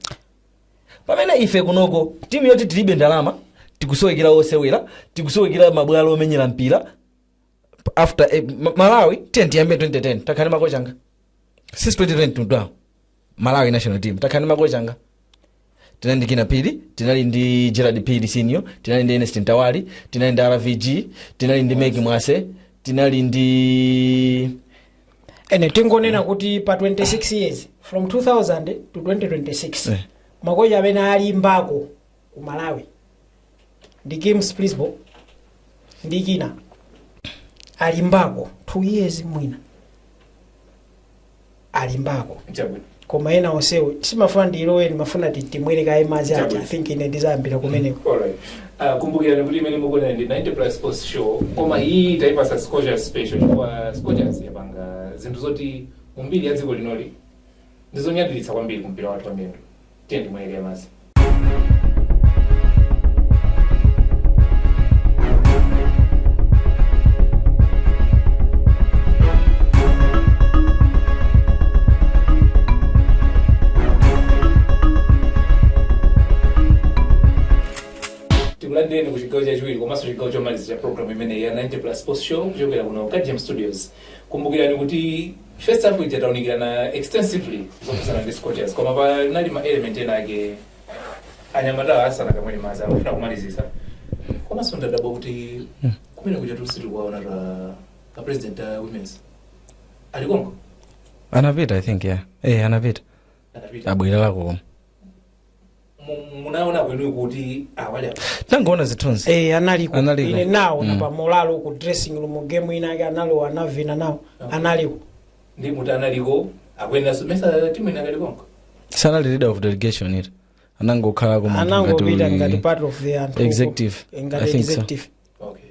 pamene ife kunoko timu yoti tilibe ndalama tikusowekera osewera tikusowekera mabwalo omenyera mpira P- after eh, Ma- malawi tiye tiyambe 2010 takhala ndi makocha angati since 2010 tudwawo malawi national team takhala ndi makocha angati tinali ndi kinnah phiri tinali ndi gerald phiri senior tinali ndi ernest mtawali tinali ndi rvg tinali ndi meke mwase tinali ndi ene tingonena kuti pa 26 years from 2000 to 2026 Eh. makocha amene alimbako ku malawi ndi kim splidsboel ndi kinnah alimbako 2 years mwina alimbako chabwino koma ena onsewo sindimafuna ndilowe ndimafuna timwere kaye madzi aja i think ine ndizayambira kumeneko Alright. Uh, kumbukirani kuti imene mukuonera ndi 90 plus sports show koma iyi taipasa scorchers special chifukwa scorchers yapanga zinthu zoti mumbiri ya dziko linoli ndizonyadiritsa kwambiri kumpira wathu wamiyendo tiye timwere kaye madzi tikulandireni ku chigawo chachiwiri komanso chigawo chomaliza cha programu imeneyi ya 90 plus sports show kuchokera kuno ka gem studios kumbukirani kuti first half ija taunikirana extensively zokhudzana ndi scorchers koma panali ma element ena ake anyamatawa asanakamwe madzi akufuna kumalizisa komanso ndadabwa kuti kumene kuja sitikuwaona ta ka president a women's alikongo anapita i think yeah eh anapita anapita abwera lako koma munaona kwenu kuti awali apa tangoona zithunzi Eh, analiko Analiko. ine ndinawaona Mm. na pa Moulay ku dressing room game ina yake analowa anavina nawo analiko ndi muti analiko akuyenda ndimayesa timu inakalikonko sanali leader of delegation iwo anangokhalako munthu ngati anangopita uyu- ngati part of the anthu executive Eh, ngati i think so executive okay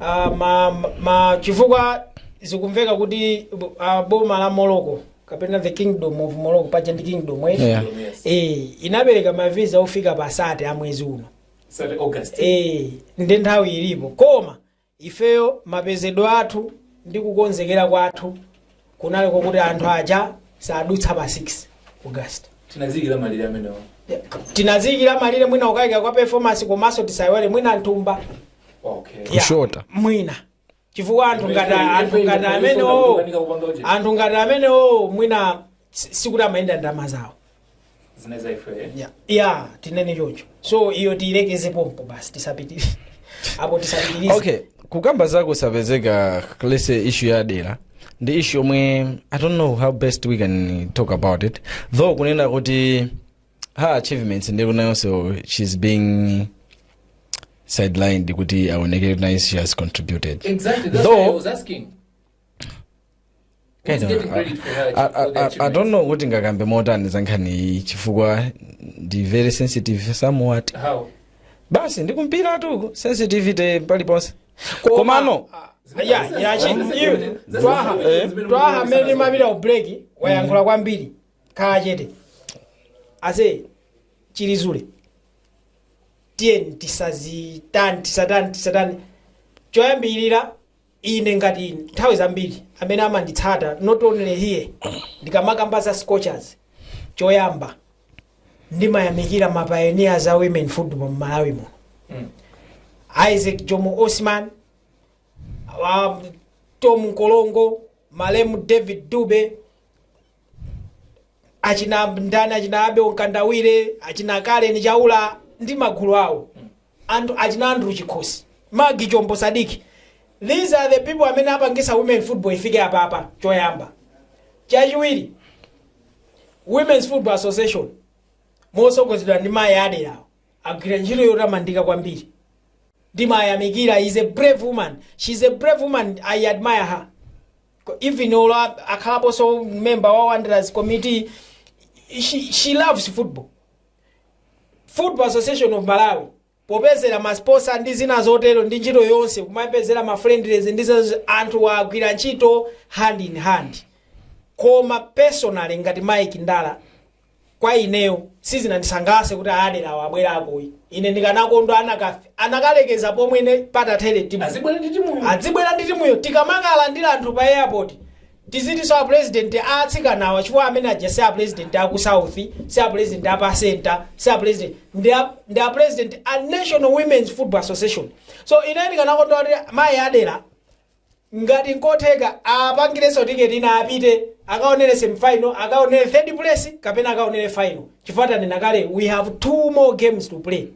Ah, ma, ma chifukwa zikumveka kuti uh, boma la morocco kapena the kingdom of morocco paja ndi kingdom eh? Yeah. eh, inapereka mavisa ofika pa sate a mwezi uno Sate August. eh, ndi nthawi ilipo koma ifeyo mapezedwe athu ndi kukonzekera kwathu kunali kwakuti anthu aja sadutsa pa 6 august tinaziikira malire amenewo tinaziikira malire mwina kukayika kwa performance komanso tisayiwale mwina m'thumba okay Ya, Kushota. mwina chifukwa anthu ngati anthu ngati amenewo anthu ngati amenewo mwina si- sikuti amayenda ndalama zawo ya ya tinene choncho so iyo tiyilekeze pompo basi tisapitire apo tisapitirize okay kukamba zakusapezeka leslie issue ya adela ndi issue yomwe i don't know how best we can talk about it though kunena kuti her achievements ndi konsekonse she's being sidelined kuti aonekere kuti naye she has contributed Exactly. That's Though- why I was asking. I Who's don't getting know. credit for her I, for I, the I, I achievement? don't know kuti ndingakambe motani zankhani iyi chifukwa ndi very sensitive somewhat How? basi ndikumvera tu sensitivity paliponse komano ya ya chi iwe twaha twaha mmene timapita ku break wayankhula kwambiri khala chete as if ili zule tiyeni tisatani tisatani tisatani choyambirira Ine ngati nthawi zambiri amene amanditsata not only here ndikamakamba za scorchers choyamba ndimayamikira ma pioneers a women football mu Malawi muno Isaac Jomo Osman um, Thom Mkolongo malemu David Dube achina ndani achina abel mkandawire achina karen chaula ndi magulu awo anthu achina andrew chikhosi magi chombo sadik these are the people amene apangitsa women football ifike apapa choyamba chachiwiri women's football association motsogozedwa ndi mayi adelawo agwira ntchito yotamandika kwambiri ndimayamikira is a brave woman she is a brave woman i admire her even olo akhalaponso member wa wanderers committee she, she loves football football association of malawi popezera masponsor ndi zina zotero ndi ntchito yonse kumapezera mafriendlies ndi zina anthu agwira ntchito hand in hand koma personally ngati mike ndala kwa ineyo sizinandisangalatse kuti a aderawo abwerako ayi ine ndikanakondwa anakalekeza pomwe ine patathere timu adzibwera ndi timuyo tikamakalandira anthu pa airport tizitinso a president atsikanawa chifukwa amene aja si a president aku south si a president apa center si a president ndi a- ndi a president a national women's football association so ine ndikanakondwa kuti mayi adera ngati nkotheka apangilenso ticket ina apite akaonele semi final akaonele third place kapena akaonele final chifukwa tanena kale we have two more games to play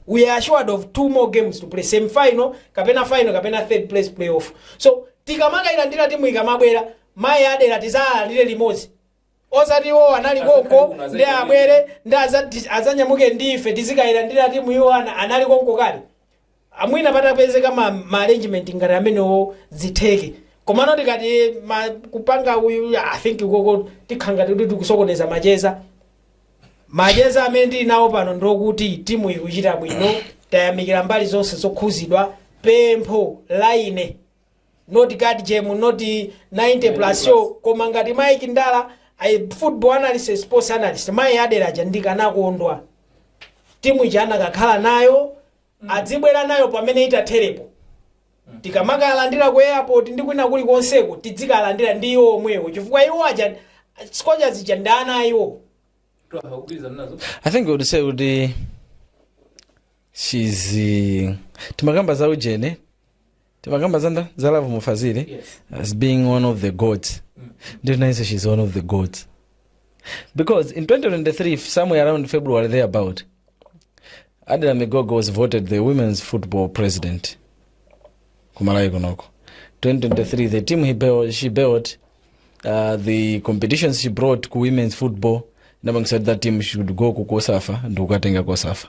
we are assured of two more games to play semi final kapena final kapena third place playoff so tikamakayilandira timu ikamabwera mayi adera tizalandire limodzi Osati iwo anali konko, ndi abwere, ndi adza, adzanyamuke ndi ife, tizikayilandira timu, iwo ana, anali konko kale. Mwina patapezeka ma, ma arrangement ngati amenewo zitheke. Komano tikati ma, kupanga uyu, I think ukoko tikhala ngati kuti tikusokoneza macheza. Macheza amene tili nawo pano ndokuti timu ikuchita bwino, tayamikira mbali zonse zokhuzidwa, pempho la ine not guard game not 90 plus show koma ngati mike ndala a football analyst and sports analyst mai adera aja ndikanakondwa timu ija anakakhala nayo adzibwera nayo pamene itatherepo tikamakalandira ku airport ndi kwina kuli konseko tidzikalandira ndi iwo omwewo chifukwa iwo aja scorchers ija ndi ana a iwo i think we would say kuti she's uh, timakamba za ujene timakamba zanda za love mufazile yes. as being one of the gods mm. ndio naise she's one of the gods because in 2023 somewhere around february there about adela migogo was voted the women's football president kumalawi kunoko 2023 the team he built, she built uh, the competitions she brought ku women's football namangisa that team should go ku kosafa ndikukatenga kosafa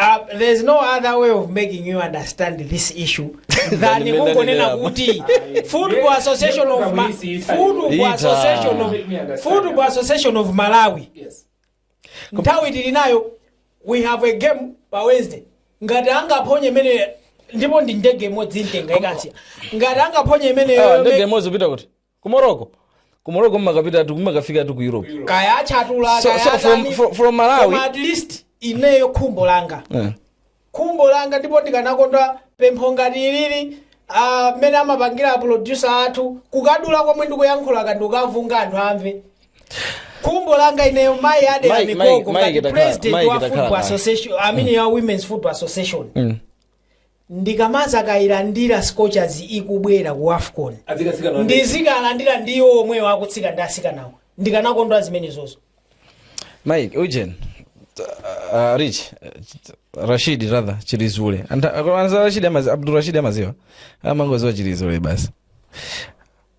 Uh, there's no other way of making you understand this issue than kungonena kuti football association of Malawi nthawi tili nayo we have a game pa wednesday ngati angaphonye imene ndipo ndi ndege imodzi imtenga ikamsiya ngati angaphonye imeneyo ndege imodzi upita kuti ku morocco ku morocco mmakapitatu mmakafikatu ku europe kaya achatula so, kaya so from, atani, from, from koma malawi at least ineyo khumbo langa Eh. khumbo langa ndipo ndikanakonda pempho ngati ilili ah, mmene amapangira a producer athu kukadula komwe ndikuyankhulaka ndi kukavunga anthu amve khumbo langa ineyo mayi adera migogo ngati president wa football association i mean ya women's football association ndikamazakailandira scorchers ikubwera ku afcon ndizikalandira ndi iwo omwewo akutsika ndi asikanawo ndikanakondwa zimenezozo mike ujeni uh, rich uh, rashid rather chilizule Anta- koma anza rashid amazi- abdul rashid amaziwa amangoziwa chilizule basi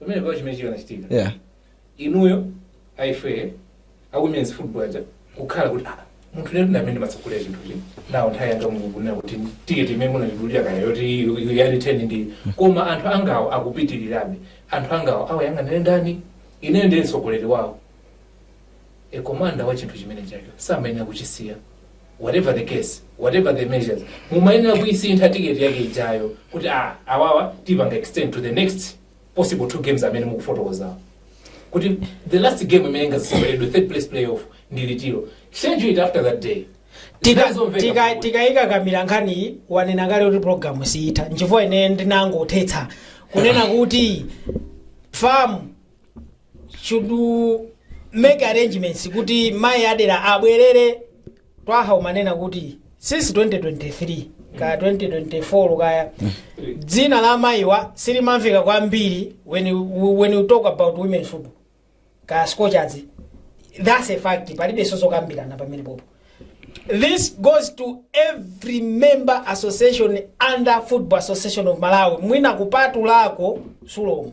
pamene pao chimene chikanachitika yeah inuyo aife a women's football aja kukhala kuti "Ah, munthu ndi amene ndimatsogolera chinthuchi nawo nthawi yanga mukunena kuti tiketi imene munatidulira kaya yoti ya return ndi koma anthu angawo akupitirirabe anthu angawo awayang'anire ndani ineyo ndiye mtsogoleri wawo Commander wa chinthu chimene chacho samayenera kuchisiya whatever the case, whatever the measures. Mumayenera kuisintha ticket yake ijayo kuti ah awawa tipanga extend to the next possible two games amene mukufotokozawo. Kuti the last game imene ikaseweredwe third place playoff ndi litiro. Schedule it after that day. Tika- Zomveka tika- bwino. tikakakamira nkhani wanena kale kuti programu siyitha nchifukwa ine ndinangothetsa kunena kuti FAM should make arrangements kuti mayi Adela abwerere Twaha umanena kuti since 2023 kaya 2024 kaya dzina la mayiwa silimamveka kwambiri when you, when you talk about women's football kaya scorchers that's a fact palibe zokambirana pamene popo this goes to every member association under football association of malawi mwina kupatulako Sulom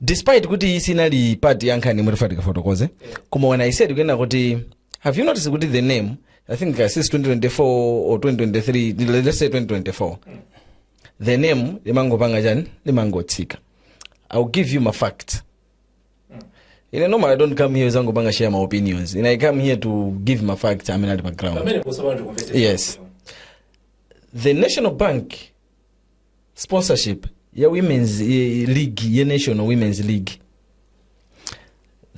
despite kuti iyi sinali part ya nkhani imene tifunika tifotokoze koma when i said kunena kuti have you noticed kuti the name i think uh, since 2024 or 2023 let's say 2024 the name limangopanga chani limangotsika i'll give you my facts ine normally i don't come here kuzangopanga share my opinions ine i come here to give my facts amene ali pa ground pamene ukuyamba kundimvetsa yes the national bank sponsorship ya women's eh, league ya national women's league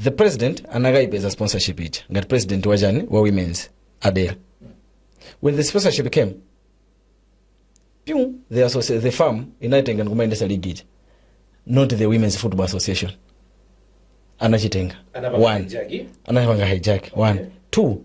the president anakayipeza sponsorship ija ngati president wachani wa women's Adela when the sponsorship came pyu the, associ- the FAM inaitenga ndikumayendesa league ija not the women's football association anachitenga Anapanga one hijack. anapanga hijack one two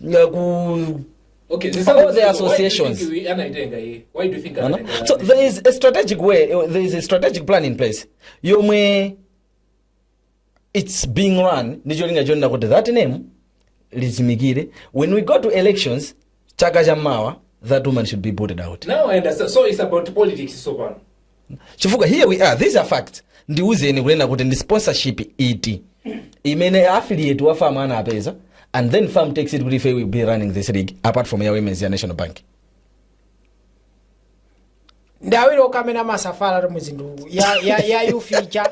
uh, ku Okay, this All is- the associations. Why do you think we- anaitenga hii? Why do you think Ano? anaitenga so hii? there is a strategic way there is a strategic plan in place yomwe it's being run ndi cholinga chonena kuti that name lizimikire when we go to elections chaka cha mawa that woman should be booted out Now I understand. So it's about politics so far. chifukwa here we are these are facts ndiwuzeni kunena kuti ndi sponsorship iti imene affiliate wa fam anapeza and then fam takes it kuti ife we'll be running this league apart from ya women's ya national bank ndi awiri okamena masafala to muzindu ya ya ya you feature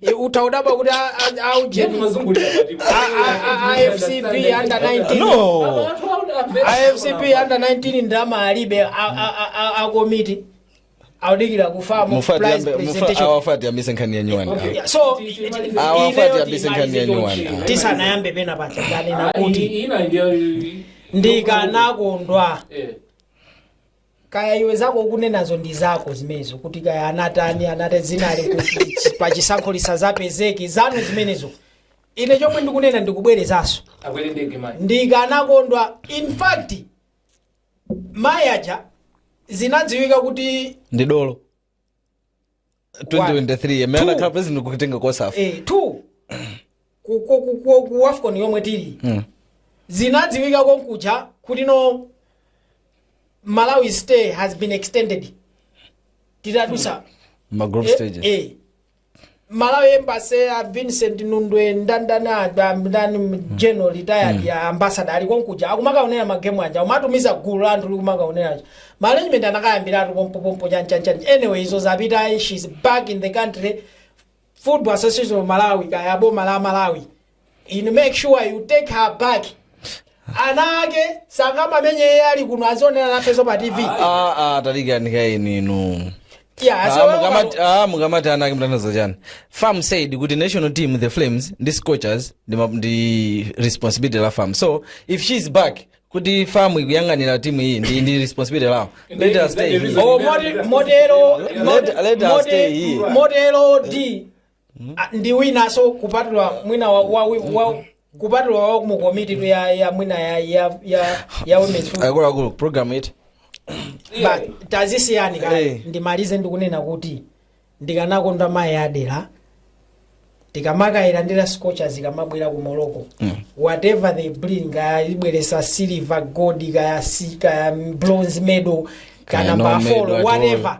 E, utaudabwa kuti a- a- aujeni A- a- a- FCB under 19 no FCB under 19 ndalama alibe a- a- a- a- akomiti audikira kufa mu Mufati prize yambe- mufa- presentation. awa afati yambise nkhani ya nyuwani Okay, awa. so Awa afati yambise nkhani ya nyuwani awa. tisanayambe pena pake ndanena kuti ina ndiyo ndikanakondwa Eh. kaya iwe zako ukunenazo ndi zako zimenezo kuti kaya anatani anate zinali kuti pa chisankho lisazapezeke zanu zimenezo ine chomwe ndikunena ndikubwerezanso akwere ndege manje ndikanakondwa in fact mayi aja zinadziwika kuti ndi dolo 2023 amene Two. anakhala president kutenga kosafa eh, two ku, ku, ku, ku, ku afcon yomwe tili Mm. zinadziwika konkuja kuti no malawi stay has been extended titadutsa ma group eh, stages eh, Malawi embassy a Vincent Nundwe ndandani aja ndani general retired yeah ambassador ali konkuja akumakaonera magemu aja umatumiza gulu la anthu likumakaonera aja management anakayambiratu pompo pompo chani chani chani anyway izo zapita ayi she's back in the country football association of Malawi kaya boma la Malawi inu make sure you take her back ana ake sangamamenye iye ali kuno azionera nafenso pa tv Ah, ah, tadikirani kaye inu Yeah, Ah, so- mukamati- ah, mukamati ana ake mukutanthauza chani fam said kuti national team the flames ndi scorchers ndi ma- ndi responsibility la fam so if she is back kuti fam ikuyang'anira timu iyi ndi ndi responsibility lawo let her stay here. Oh, mode- modelo Let- let her stay here. modelo d Ah, ndi winaso kupatula mwina wa, wa, wa kupatula wa mu komiti ya ya mwina ya ya ya, ya women's football. akuluakulu program iti Ba- tazisiyani Eh. kaye ndimalize ndikunena kuti ndikanakonda mayi adera tikamakayilandira scorchers ikamabwera ku morocco whatever they bring kaya ibweretsa silver gold kaya si kaya bronze medal Kaya kaya number four at whatever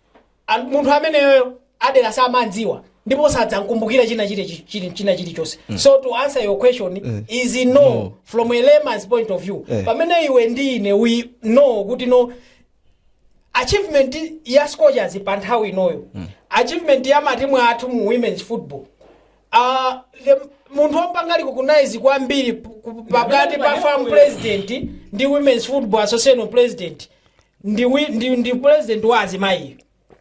An- munthu ameneyoyo adera samamdziwa ndipo sadzamkumbukira china chili- chi- chili- china chilichonse so to answer your question is no from a layman's point of view Eh. pamene iwe ndi ine we know kuti no achievement ya scorchers pa nthawi inoyo achievement ya matimu athu mu women's football uh, the, munthu wopanga recognize kwambiri p- ku- pakati pa fam president ndi women's football association president ndi, wi- ndi, ndi president wa azimayiyo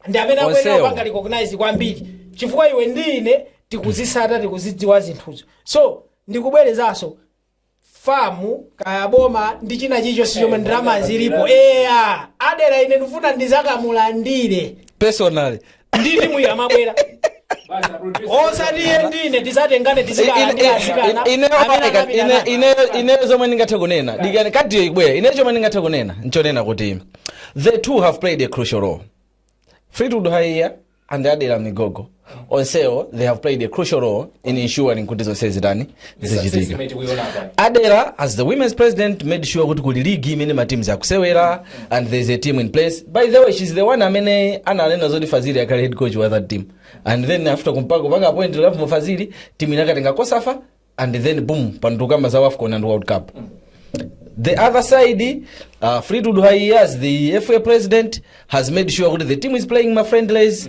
ndi amene akuyenera Onsewo. kupanga recognize kwambiri chifukwa iwe ndi ine tikuzisata tikuzidziwa zinthuzo so ndikubwerezanso famu kaya boma ndi china chilichonse chomwe ndalama zilipo eya adera ine ndifuna ndizakamulandire personally ndi timu iyi amabwera osati iye ndine tisatengane ineyo zomwe ndingathe kunena dikani kadiyo ibwera ine chomwe ndingathe kunena nchonena kuti the two have played a crucial role fleetwood haiya and adela migogo onsewo they have played a crucial role in ensuring kuti zonse zitani zichitika adera as the women's president made sure kuti kuli ligi imene mateams akusewera and there is a team in place by the way she's the one amene ananena zoti fazili akhale head coach wa that team and then after kumpaka kupanga appoint love mufazili team inakatenga kosafa and then boom pantukamba za wafcon and world cup the other side uh, fleetwood haias the fa president has made sure kuti the team is playing ma friendlies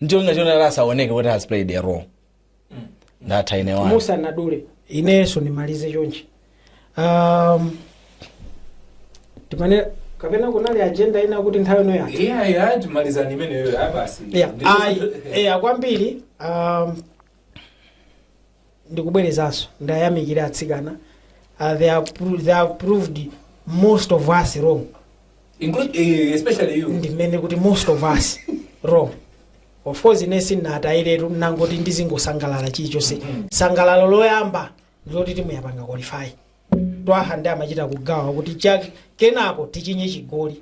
ndicholinga choti ati asaoneke kuti has played a role ndatha ine wani musandidule inenso ndimalize chonchi um, timane kapena kunali agenda ina kuti nthawi ino yake iya iya timalizani imeneyo abasi Yeah, ayi eya kwambiri um, ndikubwerezanso ndayamikira atsikana uh, they, have pro- they have proved most of us wrong Include, eh, especially you. ndimanena kuti most of us wrong of course ine sinatayiretu nangoti ndizingosangalala chilichonse sangalalo loyamba ndiloti timu yapanga qualify Twaha ndiye amachita kugawa kuti chak- kenako tichinye chigoli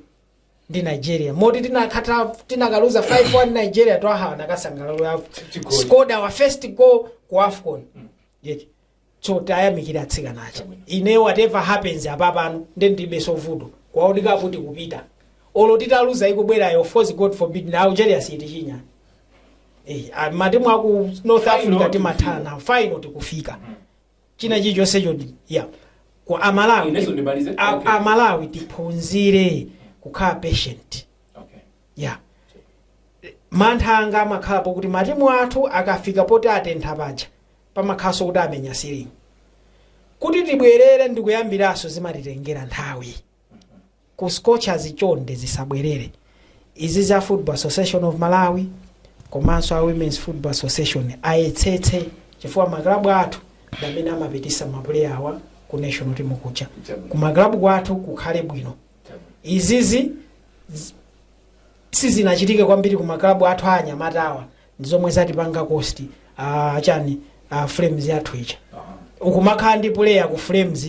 ndi nigeria moti tinakhatha tinakaluza 5-1 nigeria twaha anakasangalalo yavo Chigoli. scored our first goal ku afcon yeti so tayamikira atsikana aja ine whatever happens apapano nde ndibe so vuto kwaoneka kuti kupita olo titaluza ikubwerayo of course god forbid na algeria sitichinya Eh, ah, matimu aku north africa timathana final tikufika china chilichonse choti ya kwa amalawi Inenso ndimalize? a- Okay. amalawi tiphunzire kukhala patient Okay. ya mantha anga amakhala pokuti matimu athu akafika poti atentha paja pamakhalanso kuti amenya silingi kuti tibwerere ndikuyambiranso zimatitengera nthawi Ku Scorchers chonde zisabwerere. Izi za Football Association of Malawi komanso a Women's Football Association ayetsetse chifukwa ma club athu ndi amene amapitisa ma player awa ku national team kuja. Ku ma club kwathu kukhale bwino. Izizi z- sizinachitike kwambiri ku ma club athu a anyamata awa ndi zomwe zatipanga cost ah, chani ah, Flames yathu ija. Ukumakhala ndi player ku Flames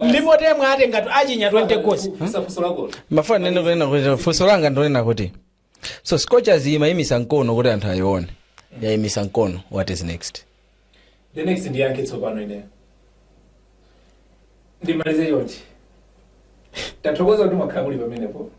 ndipo Temwa atengatu achinya 20 goals mafuna ndinene kunena kuti funso langa ndonena kuti so scorchers imayimisa mkono kuti anthu ayione yayimisa mkono what is next the next ndiyankhe tsopano ineyo ndimalize yonje tathokoza kuti mwakhala muli pamenepo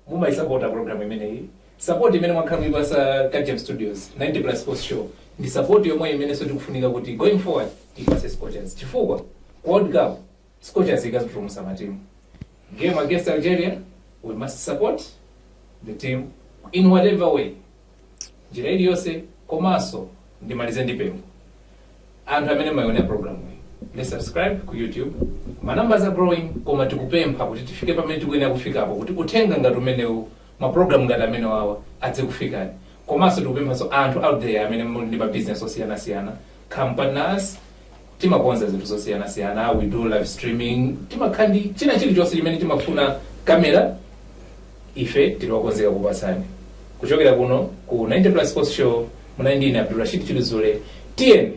mumayisapota program imeneyi support imene mwakhala muipasa kagem studios 90 plus sports show ndi support yomwe imenenso tikufunika kuti going forward tipase scorchers chifukwa ku world cup scorchers ikazipulumutsa matimu game against algeria we must support the team in whatever way njira iliyonse komanso ndimalize ndi pempho anthu amene mumaonera program iyi let's subscribe ku youtube ma numbers are growing koma tikupempha kuti tifike pamene tikuyenera kufikapo kuti uthenga ngati umenewu ma program ngati amene wawa adzikufikani komanso tikupemphanso anthu out there amene muli ndi ma business osiyanasiyana companies Timakonza zinthu zosiyanasiyana, we do live streaming, timakhala ndi china chilichonse chimene chimafuna camera ife tili okonzeka kukupatsani. Kuchokera kuno ku 90 plus sports show munali ndi ine Abdulrashid Chiluzule, tiyeni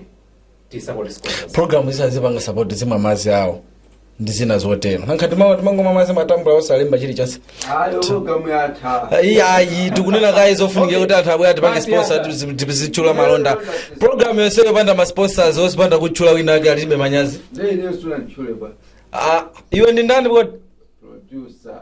tisapote scorchers. program zisazipanga support zimwa madzi awo ndi zina zotero nanga ife timamwa timangomwa madzi matambulaa osalemba chilichonse ayo programu yatha Ayi, ayi tikunena kaye zofunikira kuti anthu abwere atipange sponsor tizi- tizitchula malonda programu yonse yopanda ma sponsors osapanda kutchula wina ake alibe manyazi ndeineyo sunanditchule kwa Ah, iwe ndi ndani kodi producer